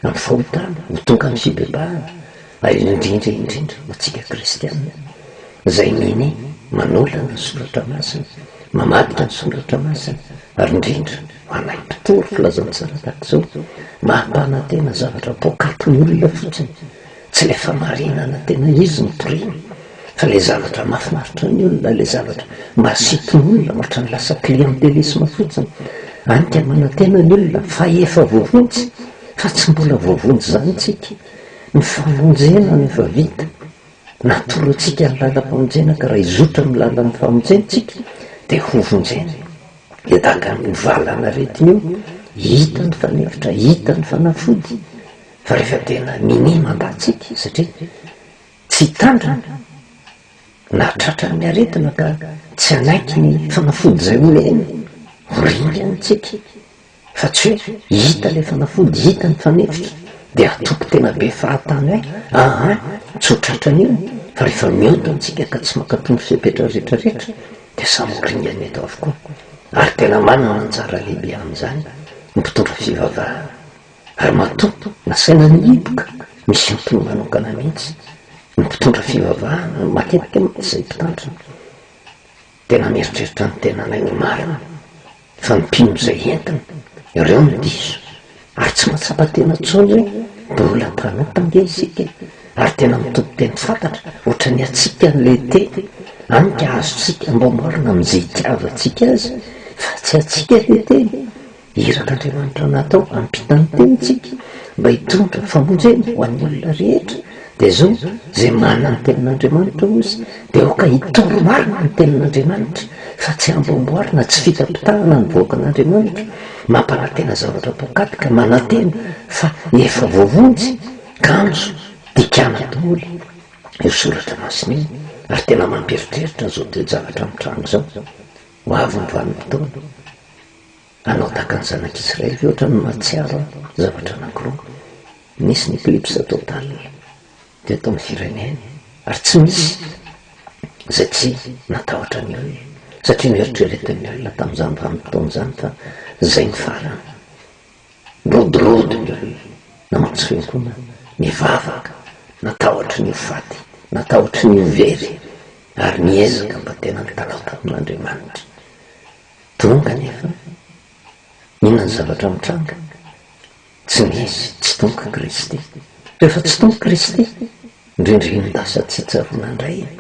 A: amin'ny fahotana, ho tonga amin'ny fibebahana, ary indrindra indrindra ho antsika kristiana, izay minia, manolana ny soratra masina, mamadika ny soratra masina, ary indrindra, Manaiky mpitory filazan'ny tsara tahaka izao, maha-mpanantena zavatra poakatin'ny olona fotsiny, tsy ilay famarinana tena izy no toriany, fa ilay zavatra mahafinaritra ny olona, ilay zavatra mahasintona olona, ohatran'ny lasa clientélisme fotsiny. Hany ka manantena ny olona fa efa voavonjy, fa tsy mbola voavonjy izany isika. Ny famonjena no efa vita, natoro antsika ny lalam-pamonjena ka raha hizotra amin'ny lalan'ny famonjena isika dia hovonjena. Dia danga ny valanaretina io, hita ny fanefitra, hita ny fanafody, fa rehefa tena minia mandatsika satria tsy hitandrina na tratran'ny aretina ka tsy hanaiky ny fanafody izay omeny, ho ringany tsika, Fa tsy hoe hita ilay fanafody, hita ny fanefitra, dia hatoky tena be fahatany hoe aa, tsy ho tratran'io, fa rehefa mihoda antsika ka tsy mankatò ny fepetra rehetra rehetra, dia samy ho ringany eto avokoa. Ary tena manana anjara lehibe amin'izany ny mpitondra fivavahana. Ary matoa nasaina nihiboka, misy antony manokana mihitsy. Ny mpitondra fivavahana, matetika mantsy izay mpitandrina, dia namieritreritra ny tenanay ho marina. Fa ny mpino izay entiny, ireo no diso. Ary tsy mahatsapa tena intsony hoe mbola mpanota ange isika, ary tena mitoto-teny fantatra, ohatra ny antsika any Leyte any ka azontsika ambao marina amin'izay itiavantsika azy, fa tsy antsika ilay teny. Irak'Andriamanitra natao hampita ny tenintsika, mba hitondra famonjena ho an'ny olona rehetra. Dia izao, izay manana ny Tenin'Andriamanitra oz dia aoka hitory marina ny Tenin'Andriamanitra fa tsy hamboamboarina, tsy fitapitahana ny vahoakan'Andriamanitra, mampanantena zavatra poakaty ka manantena fa efa voavonjy, kanjo dikana daholo io soratra masina io ary tena mampieritreritra izao toe-javatra mitranga izao, ho avy ny vanim-potoana. Hanao tahaka ny zanak'Israely ve ohatran'ny mahatsiaro aho zavatra anankiroa, Nisy ny eclipse total teto amin'ny firenena ary tsy misy izay tsy natahotra ny olona satria noeritreretin'ny olona tamin'izany vanim-potoana izany fa izay ny farany. Nirodorodo ny olona, namatsy fiangonana, nivavaka, natahotry ny ho faty, natahotry ny ho very ary niezaka mba tena nitalaho tamin'Andriamanitra. Donga anefa, inona ny zavatra mitranga? Tsy nisy tsy donga Kristy. Rehefa tsy donga Kristy, indrindra iny lasa tsy tsaroana indray iny,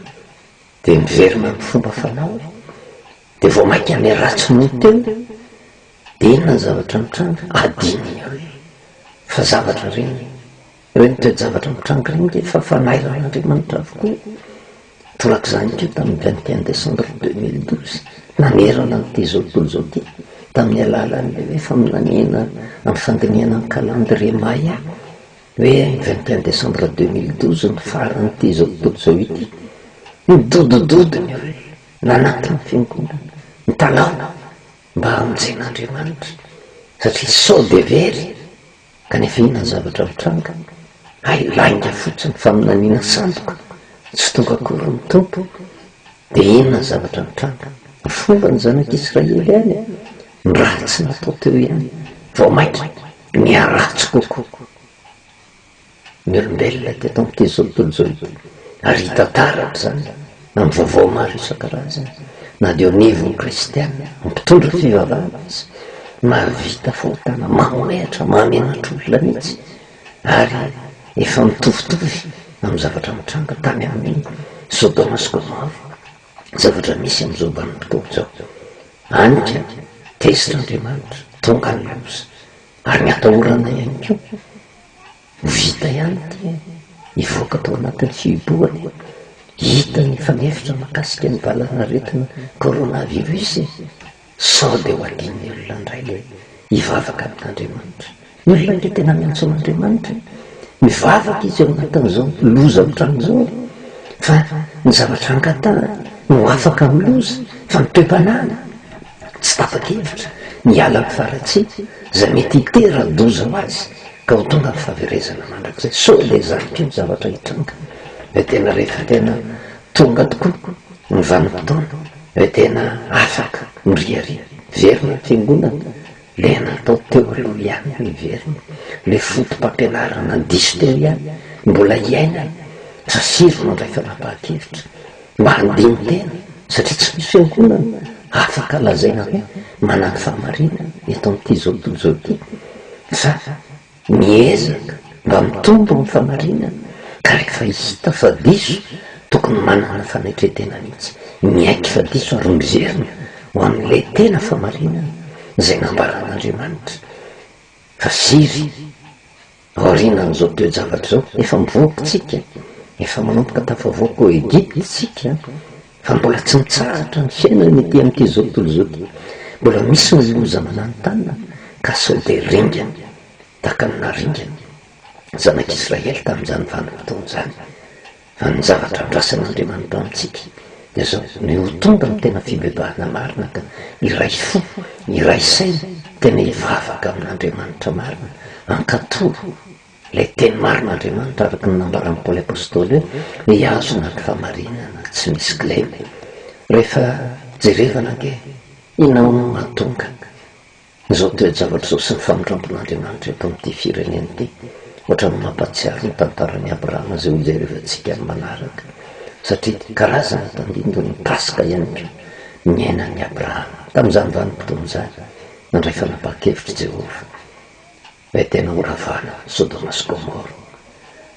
A: dia miverina amin'ny fomba fanao, dia vao mainka ny ratsy no teo, dia inona ny zavatra mitranga? Adino ny hoe fa zavatra ireny Ireny toe-javatra mitranga ireny dia efa fanairan'Andriamanitra avokoa. Torak'izany koa tamin'ny vingt et un décembre deux mille douze, nanerana an'ity izao tontolo izao ity, tamin'ny alalan'ilay hoe faminaniana amin'ny fandinihana ny calendrier Maya, hoe ny vingt et un décembre deux mille douze no faran'ity izao tontolo izao ity. Nidodododona ireo nanatona ny fiangonana, nitalaho mba hamonjena Andriamanitra, satria sao dia very. Kanefa inona ny zavatra mitranga? Hay lainga fotsiny ny faminaniana sandoka, tsy tonga akory ny Tompo. Dia inona ny zavatra mitranga? Ny fomba ny zanak'i Israely any no ratsy natao teo ihany, vao mainka niharatsy kokoa. ny olombelona teto amin'ity izao tontolo ity, ary hita taratra izany amin'ny vaovao maro isan-karazany, na dia eo anivon'ny Kristiana mpitondra fivavahana aza, mahavita fahotana mamohehatra, mahamenatra olona mihitsy, ary efa mitovitovy amin'ny zavatra nitranga tany amin'ny Sodoma sy Gomora, zavatra misy amin'izao vanim-potoana izao. Any ka, tezitra Andriamanitra, tonga ny loza, ary ny atahoranay ihany koa. Ho vita ihany ity hivoaka tao anatin'ny fihibohana e! Hita ny efa mihevitra mahakasika ny valan'aretina coronavirus e! Sao dia ho adin'ny olona indray ilay hivavaka amin'Andriamanitra. Ny olona ange tena miantso an'Andriamanitra e! Mivavaka izy ao anatin'izao loza ohatran'ny izao e! Fa ny zavatra angatahany no afaka amin'ny loza fa ny toe-panahiny tsy tapa-kevitra ny hiala amin'ny faharatsiana izay mety hitera-doza ho azy. Ka ho tonga ny fahaverezana mandrakizay. Sao ilay zandriko iny zavatra hitranga ve tena rehefa tena tonga tokoa ny vanim-potoana ve tena afaka miriaria? Very ny fiangonana? Ilay natao teo aloha ihany no hiverina? Ilay fotopampianarana diso teo ihany no mbola hiaina sa sivy no andray fanapahan-kevitra? Mandeha tena satria tsy misy fiangonana afaka lazaina hoe manana fahamarinana eto amin'itizao tontolo izao ity fa miezaka mba mitombo amin'ny fahamarinana ka rehefa hita fa diso tokony manana fanaitretena mihitsy miaiky fa diso ary mizerina ho amin'ilay tena fahamarinana izay nambaran'Andriamanitra fa firy Aorianan'izao toe-javatra izao, efa mivoaka isika, efa manomboka tafavoaka ao Egypta isika, fa mbola tsy mitsahatra ny fiainana ety amin'ity izao tontolo izao ity. Mbola misy ny loza mananontanona, ka sao dia ringana, tahaka ny naharingana ny Zanak'Israely tamin'izany vanim-potoana izany. Fa ny zavatra andrasan'Andriamanitra amintsika dia izao, ny ho tonga amin'ny tena fibebahana marina ka hiray fo, hiray saina, tena hivavaka amin'Andriamanitra marina, hankatò ilay teny marin'Andriamanitra araka ny nambaran'i Paoly Apostoly hoe, hihazona ny fahamarinana tsy misy kilema. Rehefa jerevana ange, inona hono no hahatonga? Izao toe-javatra izao sy ny famindrampon'Andriamanitra eto amin'ity firenena ity ohatran'ny mampahatsiaro ny tantaran'i Abrahama izay hojerevantsika amin'ny manaraka satria karazana tandindon'ny Paska ihany koa niainan'i Abrahama tamin'izany vanim-potoana izany nandray fanapahan-kevitr'i Jehovah. Ilay tena ho ravana, Sodoma sy Gomora.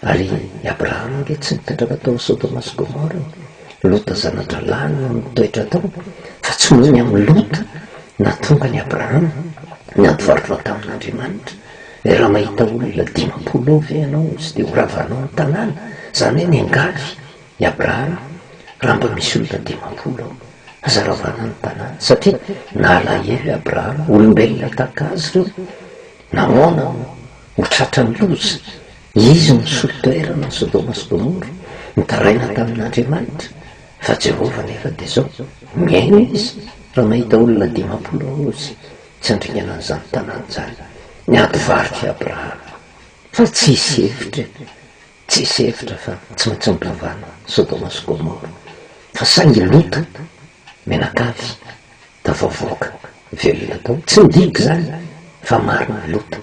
A: Ary i Abrahama ange tsy nipetraka tao Sodoma sy Gomora e! Lota zana-drahalahy no nitoetra tao, fa tsy noho ny amin'i Lota nahatonga an'i Abrahama ny hampivarotra tamin'Andriamanitra. Dia raha mahita olona dimampolo eo ve ianao tsy dia ho ravanao ny tanàna? Izany hoe miangavy I Abrahama, Raha mba misy olona dimampolo ao, aza ravana ny tanàna, satria nalahelo i Abrahama, olombelona tahaka azy ireo, namoana no ho tratran'ny loza, izy no nisolo toerana an'i Sodoma sy Gomora, nitaraina tamin'Andriamanitra, fa Jehovah anefa dia izao, mihaino izy raha mahita olona dimampolo ao izy, tsy handringana an'izany tanàna izany. Niady varika i Abrahama, fa tsy hisy hevitra e! Tsisy hevitra fa tsy maintsy ampihavana Sodoma sy Gomora fa saingy Lota mianakavy tafavoaka velona tao tsy midika izany fa marina ry Lota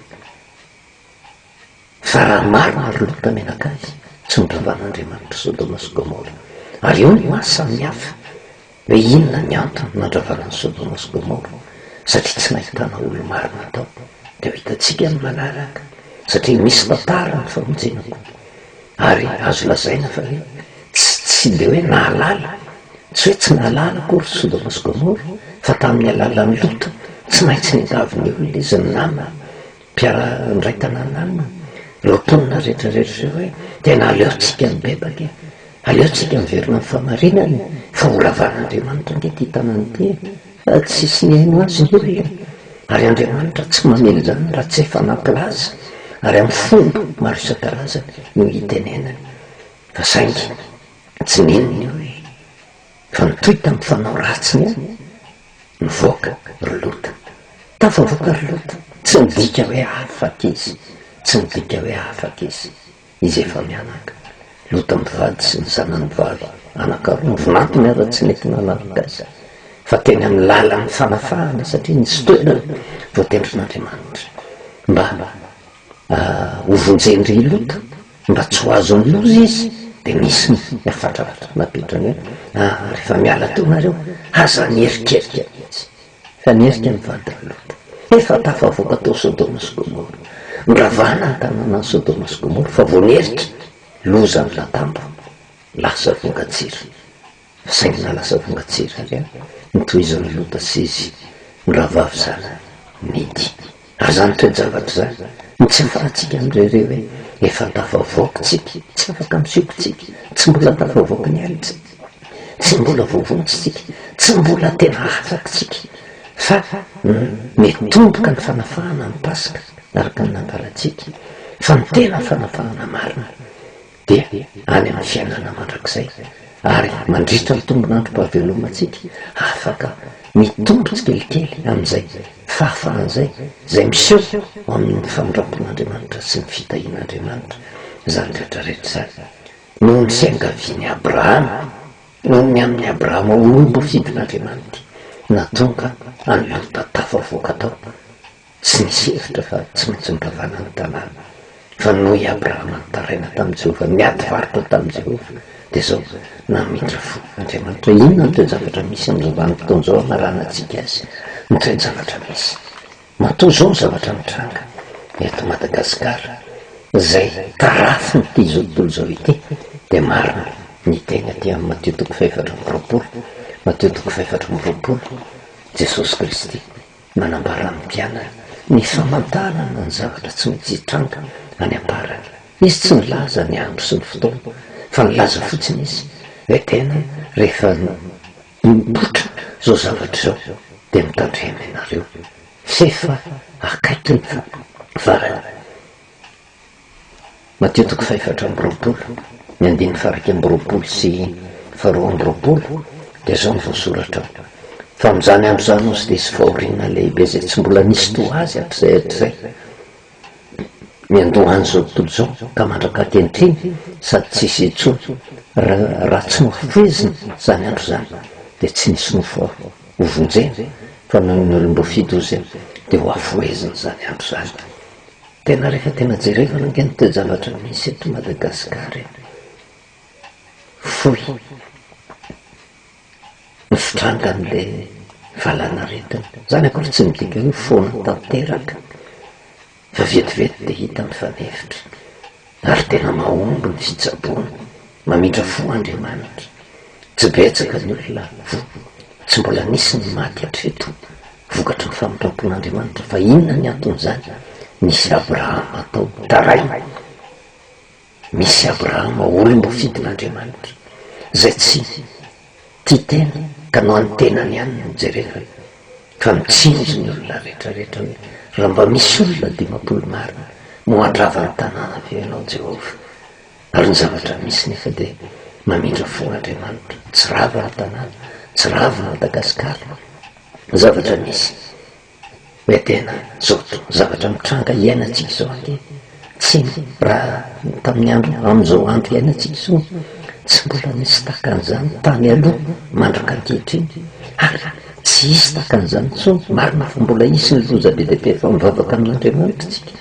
A: fa raha marina ry Lota mianakavy tsy noravan'Andriamanitra Sodoma sy Gomora ary eo ny maha samy hafa Hoe inona ny antony nandravana an'i Sodoma sy Gomora? Satria tsy nahitana olo-marina tao. Dia ho hitantsika ny manaraka, satria misy tantara ny famonjena koa. Ary azo lazaina fa hoe tsy tsy dia hoe nahalala, tsy hoe tsy nahalala akory Sodoma sy Gomora, fa tamin'ny alalan'i Lota, tsy maintsy niangavy ny olona izy ny namany, Mpiaraha ndray tanàna aminy ireo mponina rehetra rehetra ireo hoe tena aleontsika mibebaka e! Aleontsika miverina amin'ny fahamarinana e! Fa ho ravan'Andriamanitra ange ity tanàna ity e! Fa tsisy nihaino azy ny olona e! Ary Andriamanitra tsy mamely izany raha tsy efa nampilaza ary amin'ny fomba maro isan-karazany no hitenenany. Fa saingy tsy nino ny olona. Fa nitohy tamin'ny fanao ratsiny ihany ny vahoaka ry Lota. Tafavoaka ry Lota, tsy midika hoe afaka izy, tsy midika hoe afaka izy, izy efa mianaka. Lota mivady sy ny zanany vavy anankaroa mivonantony aza tsy nety nanaraka azy, fa teny amin'ny lalan'ny fanafahana satria nisy toerana voatendrin'Andriamanitra mba hovonjen-dry Lota. Mba tsy ho azo amin'ny loza izy dia misy ny hafatra napetrany hoe, ah, rehefa miala teo nareo, aza mieritreritra mihitsy fa ny erika mivadika loatra. Efa tafavoaka tao Sodoma sy Gomora. Noravana ny tanànan'i Sodoma sy Gomora fa vao nieritra, lozan'ny latambo, lasa vongan-tsira. Sahy nalasa vonga tsy rariny ny tohizan'i Lota sy izy mirahavavy zara midy. Aza antoky an-javatra izany no tsy hafarantsika amin'ireo re hoe efa tafavoaka isika, tsy afaka misioka isika, tsy mbola tafavoaka ny ainy isika, tsy mbola voavonjy isika, tsy mbola tena afaka isika fa miatomboka ny fanafahana ny Paska araka ny nangalantsika fa ny tena fanafahana marina. dia any amin'ny fiainana mandrakizay, ary mandritra ny tombon'androm-pahavelomantsika, afaka mitombo tsikelikely amin'izay fahafahana izay, izay miseho ao amin'ny famindram-pon'Andriamanitra sy ny fitahian'Andriamanitra izany rehetra rehetra izany. Noho ny fiangavian'i Abrahama, noho ny amin'i Abrahama ho olom-bafidin'Andriamanity, na tonga an'i Lota tafavoaka tao, Tsy nisy hevitra fa tsy maintsy nivavahana ny tanàna. Fa noho i Abrahama nitaraina tamin'i Jehovah, niady varotra tamin'i Jehovah, dia izao, namindra fo. Andriamanitra, inona no toe-javatra misy amin'izao vanim-potoana izao hanarahanantsika azy? Ny toe-javatra misy. Matoa izao ny zavatra mitranga eto Madagasikara, izay tarafin'ity izao tontolo izao ity, dia marina ny teny aty amin'ny Matio toko fahefatra amby roapolo, Matio toko fahefatra amby roapolo, Jesosy Kristy Nanambara ny mpianany ny famantarana ny zavatra tsy maintsy hitranga any am-parany. Izy tsy nilaza ny andro sy ny fotoana, fa nilaza fotsiny izy hoe tena rehefa mipoitra izao zavatra izao, dia mitandrema ianareo, f'efa akaiky ny farany. Matio toko fahefatra amby roapolo, ny andininy fahairaika amby roapolo sy faharoa amby roapolo, dia izao no voasoratra ao, Fa amin'izany andro izany hozy dia hisy fahoriana lehibe izay tsy mbola nisy toa azy hatrizay hatrizay, ny handoa an'izao tontolo izao ka mandraka ankehitriny, sady tsy hisy intsony, raha tsy nohafohezina izany andro izany, dia tsy nisy nofo hovonjena, fa noho ny olom-boafidy hozy dia hohafohezina izany andro izany. Tena rehefa tena jerevana ange ny toe-javatra misy eto Madagascar e. Fohy ny fitrangan'ilay valanaretina. Izany akory tsy midika hoe foana tanteraka fa vetivety dia hita mifanefitra. ary tena mahomby ny fitsaboana, mamindra fo Andriamanitra. Tsy betsaka ny olona voa, tsy mbola nisy ny maty hatreto vokatry ny famindram-pon'Andriamanitra, fa inona ny anton'izany? Misy Abrahama atao taraiana, misy Abrahama olom-bofidin'Andriamanitra, izay tsy. Tia tena ka no an'ny tenany ihany no jerevany fa mitsinjo ny olona rehetra rehetra hoe raha mba misy olona dimampolo marina no handrava ny tanàna ve ianao Jehovah? Ary ny zavatra misy nefa dia mamindra fo Andriamanitra, tsy rava ny tanàna, tsy rava i Madagasikara, zavatra misy. Edena, Joto, zavatra mitranga iainantsika izao ange, tsy ny raha tamin'ny andro amin'izao andro iainantsika izao, tsy mbola nisy takan'izany tany aloha mandraka ankehitriny, ary tsy hisy takan'izany intsony, marina fa mbola hisy ny loza be dia be fa mivavaka amin'Andriamanitra isika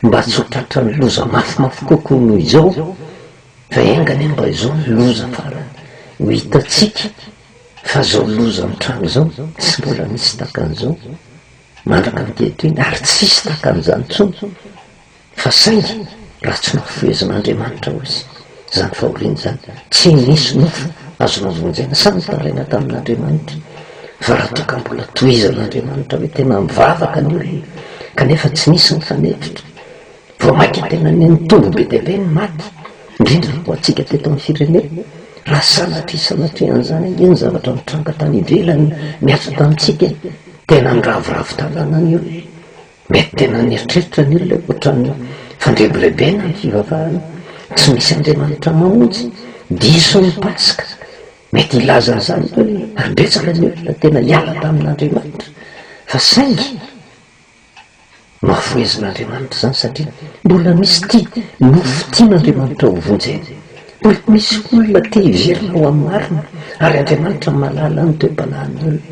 A: mba tsy ho tratran'ny loza mafimafy kokoa noho izao, fa enga anie mba izao ny loza farany ho hitantsika. Fa zao loza mitranga zao tsy mbola nisy takan'izao mandraka ankehitriny ary tsy hisy takan'izany tsony fa saingy raha tsy nafohezin'Andriamanitra ho izy zany fahoriana zany tsy nisy nofo azo navonjena sa nitaraina tamin'Andriamanitra fa raha toa ka mbola tohizan'Andriamanitra hoe tena mivavaka ny olona kanefa tsy nisy nifanefitra Vao mainka tena nitombo be dia be ny maty, indrindra ho antsika teto amin'ny firenena. Raha sanatria sanatria an'izany ange ny zavatra nitranga tany ivelany niaritra tamintsika, tena niraviravy tanana ny olona. Mety tena nieritreritra ny olona hoe ohatran'ny fandrebirebena ny fivavahana, tsy misy Andriamanitra mamonjy, diso ny Paska. Mety hilaza an'izany ny olona, ary betsaka ny olona tena hiala tamin'Andriamanitra. Fa saingy. Mahafohezin'Andriamanitra izany satria mbola misy tia no fitian'Andriamanitra ho vonjena. Mbola misy olona te hiverina ho amin'ny marina ary Andriamanitra mahalala ny toe-panahin'ny olona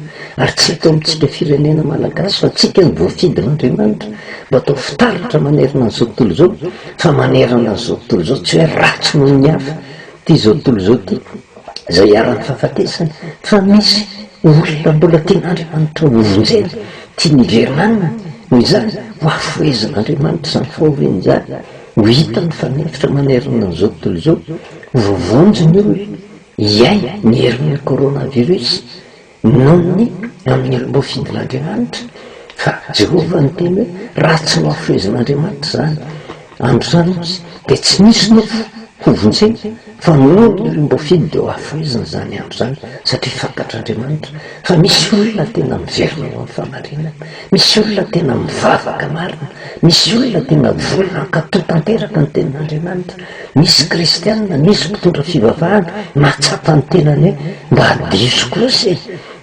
A: ary tsy eto amintsika firenena malagasy fa antsika no voafidin'Andriamanitra mba atao fitaratra manerana an'izao tontolo izao fa manerana an'izao tontolo izao tsy hoe ratsy noho ny hafa ity izao tontolo izao ity Izay iharan'ny fahafatesana fa misy olona mbola tian'Andriamanitra hovonjena, tiany hiverenanina, noho izany hohafohezin'Andriamanitra izany fahoriana izany, ho hita mifanefitra manerana an'izao tontolo izao, hovonjy ny olona, hiaina ny herin'ny coronavirus. Noho ny hamely mofo idin'Andriamanitra, fa Jehovah niteny hoe, Raha tsy nohafehezin'Andriamanitra izany, androany hozy, dia tsy nisy nofo hovonjena, fa noho ny olim-boafidy dia hohafehezina izany andro izany, satria fantatr'Andriamanitra fa misy olona tena miverina ho amin'ny fahamarinana, misy olona tena mivavaka marina, misy olona tena voa nankato tanteraka ny tenin'Andriamanitra. Misy kristiana, misy mpitondra fivavahana mahatsapa ny tenany hoe mba diso kosa e!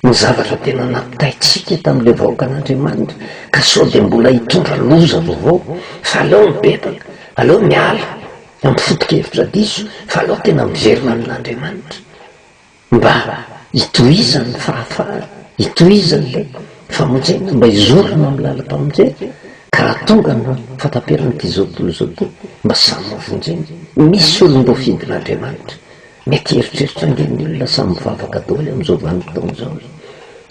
A: ny zavatra tena nampitaintsika tamin'ilay vahoakan'Andriamanitra ka sao dia mbola hitondra loza vaovao fa aleo mibebaka, aleo miala amin'ny foto-kevitra diso fa aleo tena miverina amin'Andriamanitra. Mba hitohizany ny fahafahana, hitohizany ilay famonjena, mba hizorana amin'ny lalam-pamonjena, ka raha tonga ny fataperan'ity izao tontolo izao ity, mba samy mivonjena. Misy olom-boafidin'Andriamanitra, mety hieritreritra ange ny olona samy mivavaka daholo amin'izao vanim-potoana izao hoe,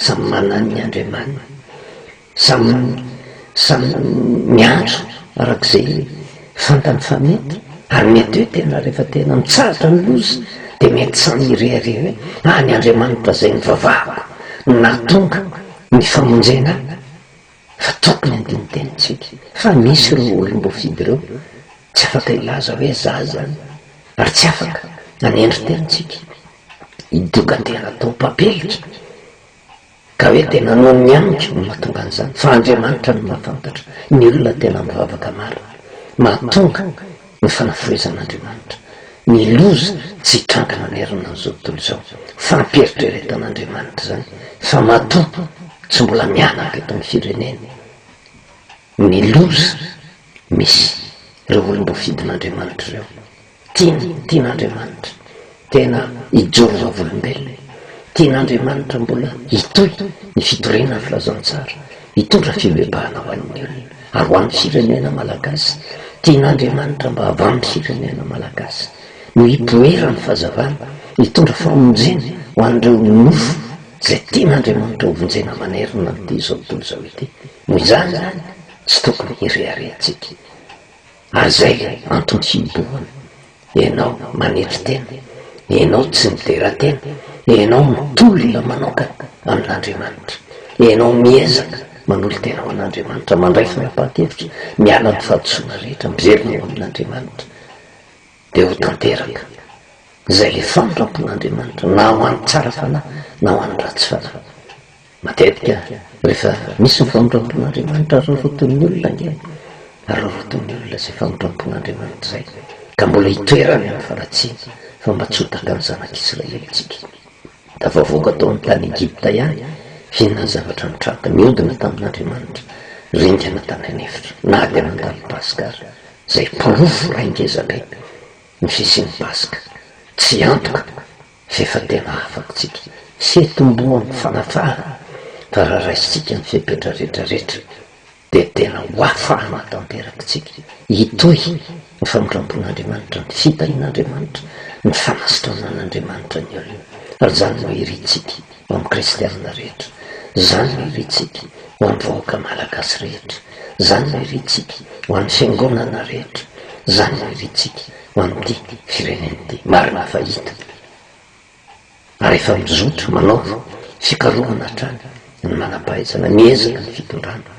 A: samy manany ny Andriamaniny, Samy samy miantso arak'izay fantany fa mety, ary mety hoe tena rehefa tena mitsahatra ny loza dia mety samy hirehareha hoe ah ny Andriamanitra izay nivavahako no nahatonga ny famonjena ahy fa tokony handino tena isika fa misy ireo olom-boafidy ireo tsy afaka hilaza hoe za izany ary tsy afaka nanendry tena isika hidogan-tena atao mpampilitra Ka hoe tena noho ny amiko no mahatonga an'izany? Fa Andriamanitra no mahafantatra ny olona tena mivavaka marina. Mahatonga ny fanafohezan'Andriamanitra ny loza tsy hitranga manerana an'izao tontolo izao. Fampieritreretan'Andriamanitra izany fa matoa tsy mbola mihanaka eto amin'ny firenena ny loza misy ireo olom-boafidin'Andriamanitra ireo. Tiana, tian'Andriamanitra tena hijoro vavolombelona e! Tian'Andriamanitra mbola hitohy ny fitoriana ny filazantsara, hitondra fibebahana ho an'ny olona ary ho an'ny firenena malagasy. Tian'Andriamanitra mba hava amin'ny firenena malagasy no hipoiran'ny fazavana, hitondra famonjena ho an'ireo nofo izay tian'Andriamanitra hovonjena manerana an'ity izao tontolo izao ity. Noho izany izany tsy tokony hireharehantsika. Ary zay antony himbohana, enao manetry tena, enao tsy midera tena, enao mitolona manokana amin'Andriamanitra, enao miezaka manolo-tena ho an'Andriamanitra, mandray fanapahan-kevitra, miala amin'ny fahadisoana rehetra, miverina ho amin'Andriamanitra, dia ho tanteraka izay le famindrampon'Andriamanitra na ho an'ny tsara fanahy na ho an'ny ratsy fanahy. Matetika rehefa misy ny famindram-pon'Andriamanitra aroroton'ny olona ange, aroroton'ny olona izay famindram-pon'Andriamanitra izay ka mbola hitoerany amin'ny fanatsiana fa mba tsy ho taka ny zanak'Israely isika. Tafavoaka tao amin'ny tany Egypta ihany fihinana zavatra mitraka mihodina tamin'Andriamanitra, ringana tany an'efitra na dia nandalo Paska aza, izay porofo raha ngeza be ny fisian'ny Paska tsy antoka. Izay efa tena afatsika sy itomboan'ny fanatrahana fa raha raisintsika ny fepetra rehetra rehetra dia tena ho afahana tanterak'tsika hitohy ny famindrampon'Andriamanitra, ny fitahian'Andriamanitra, ny fanasitranan'Andriamanitra ny olony. Ary izany no irintsika ho amin'ny kristianina rehetra, izany no irintsika ho amin'ny vahoaka malagasy rehetra, izany no irintsika ho an'ny fiangonana rehetra, izany no irintsika ho amin'ity firenena ity, marina fa hita ary efa mizotra manao fikarohana hatrany ny manam-pahaizana miezaka ny fitondrana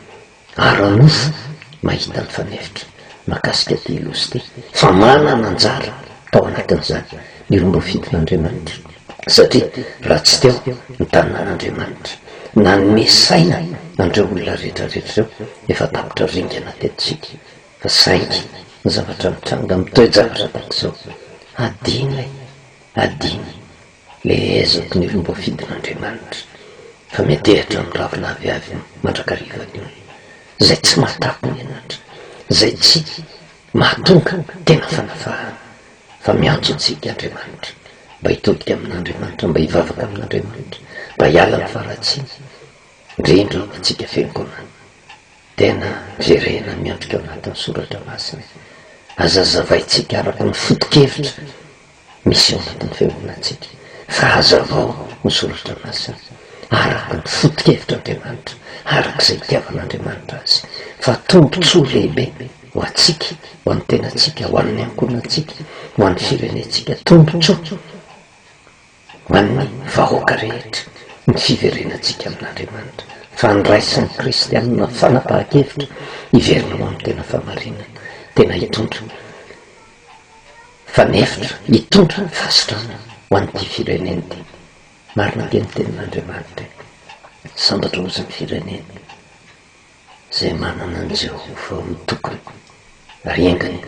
A: ara-nofo mahita ny fanefitra makasika ity lozy ity fa manana anjara tao anatin'izany ny roa ambin'ny fito n'Andriamanitra satria raha tsy teo ny tanan'Andriamanitra nanome saina andreo olona rehetra rehetra ireo efa tapitra ringana teto tsika Saingy ny zavatra mitranga amin'ny toe-javatra tahaka izao, adino e! Adino le ezaky ny olom-boafidin'Andriamanitra fa miantehatra amin'ny ravina aviavy mandrakariva ny olona izay tsy mahatafo ny henatra, izay tsy mahatonga tena fanafahana fa miantso antsika Andriamanitra mba hitodika amin'Andriamanitra, mba hivavaka amin'Andriamanitra mba hiala amin'ny faharatsiana, indrindra ho antsika fiangonana. Tena jerena miantoka ao anatin'ny soratra masina. Aza azavaintsika araka ny foto-kevitra misy ao anatin'ny fiangonantsika, fa hazavao ny soratra masina araka ny foto-kevitr'Andriamanitra, araka izay itiavan'Andriamanitra azy, fa tombon-tsoa lehibe ho antsika, ho an'ny tenantsika, ho an'ny ankohonantsika, ho an'ny firenentsika, tombon-tsoa. Ho an'ny vahoaka rehetra, ny fiverenantsika amin'Andriamanitra, fandraisan'ny kristianina fanapahan-kevitra hiverina ho amin'ny tena fahamarinana, tena hitondra fanefitra, hitondra fahasitrana ho an'ity firenena ity. Marina dia ny tenin'Andriamanitra e. Sambatra ozy ny firenena izay manana an'i Jehovah ho tokony, ary engany.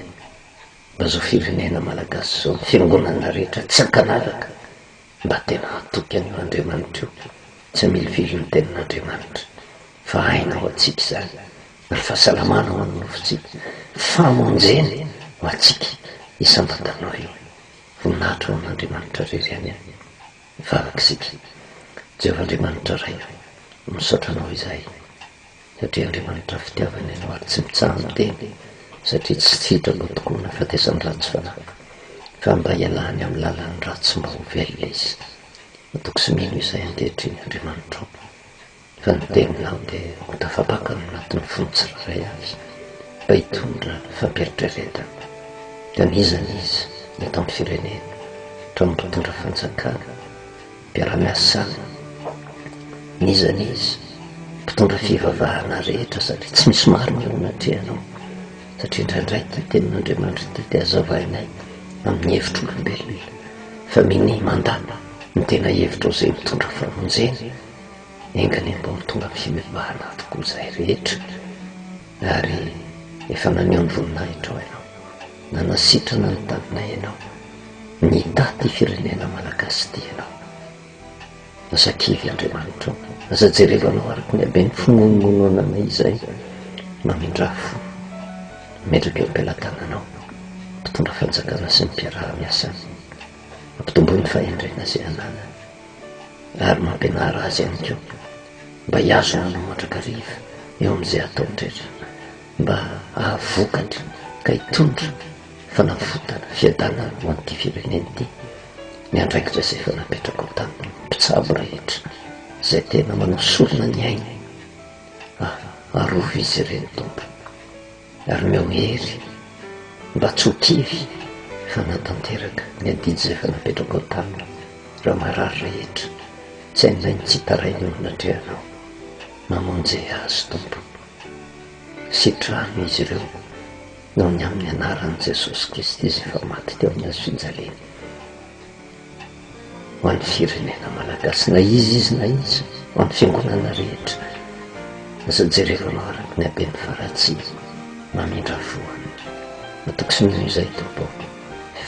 A: Mba zao firenena malagasy zao ny fiangonana rehetra tsy ankanaraka mba tena hatoky an'io Andriamanitra io tsy hamilivily ny tenin'Andriamanitra fa aina ho antsika izany ary fahasalamana ho an'ny nofontsika famonjena ho antsika i samba tanora io voninahitra ho an'Andriamanitra rery any farak'isika Jehovah Andriamanitra Ray misaotra anao izahay satria Andriamanitra fitiavana ianao ary tsy mitsaha-miteny satria tsy sitrako tokoa ny nahafatesan'ny ratsy fanahy fa mba hialany amin'ny lalan'ny ratsy mba ho velona izy. Matoky sy mino izay ankehitriny Andriamanitrao fa ny teninao dia ho tafapaka ao anatin'ny fony tsirairay avy mba hitondra fampieritrieretana. Anizany izy ny eto amin'ny firenena ka mba hitondra fanjakana. Mpiara-miasa samy iza na iza, mpitondra fivavahana rehetra sady tsy misy marina eo anatrehanao satria indraindray ity tenin'Andriamanitra ity dia azavainay amin'ny hevitr'olombelona fa minia mandà ny tena hevitrao izay mitondra famonjena, enga anie mba ho tonga amin'ny fivavahana avokoa izahay rehetra. Ary efa naneho ny voninahitrao ianao, nanasitrana ny taninay ianao, nitahy ity firenena malagasy ity ianao. Aza kivy Andriamanitra ô, aza jereva anao araka ny haben'ny fimonomononanay izay, mamindrà fo, mametraka eo am-pelatananao ny mpitondra fanjakana sy ny mpiaraha-miasa aminy, ampitomboy ny fahendrena izay ananany ary mampianara azy ihany koa Mba hiazo ny olona mandrakariva eo amin'izay ataony rehetra, mba hahavokatra ka hitondra fanavotana, fiadanana ho an'ity firenena ity ny andraikitra izay efa napetrakao tamin'ny mpitsabo rehetra izay tena manao sorona ny ainy. Ah, arovy izy ireny, Tompo. ary omeo hery mba tsy ho kivy hanatanteraka ny adidy izay efa napetrako ao taminy ireo marary rehetra tsy hain'ilay mitsitaraina eo anatrehanao mamonje azy tompo sitrano izy ireo noho ny amin'ny anaran'i jesosy kristy izay efa maty teo amin'ny hazo finjaliana ho an'ny firenena Malagasy na iza izy na iza ho an'ny fiangonana rehetra aza jereo anao araka ny haben'ny faratsiana mamindra voany matoky ny izay tompo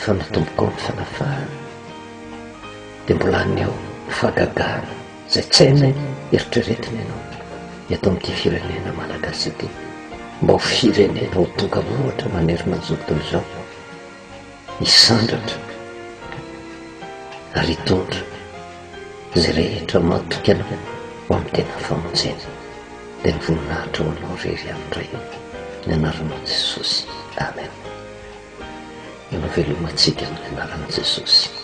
A: fa natomboko ny fanafahana dia mbola any ao fagagana izay tsy hainay eritreretina ianao eto amin'ity firenena Malagasy ity mba ho firenena ho tonga ohatra manery manjoto izao hisandratra ary hitondra izay rehetra mahatokana ho amin'ny tena famonjena dia ny voninahitra ho anao rery amin'ny Ray ny anaran'i Jesosy Amen ianao velomantsika amin'ny anaran'i Jesosy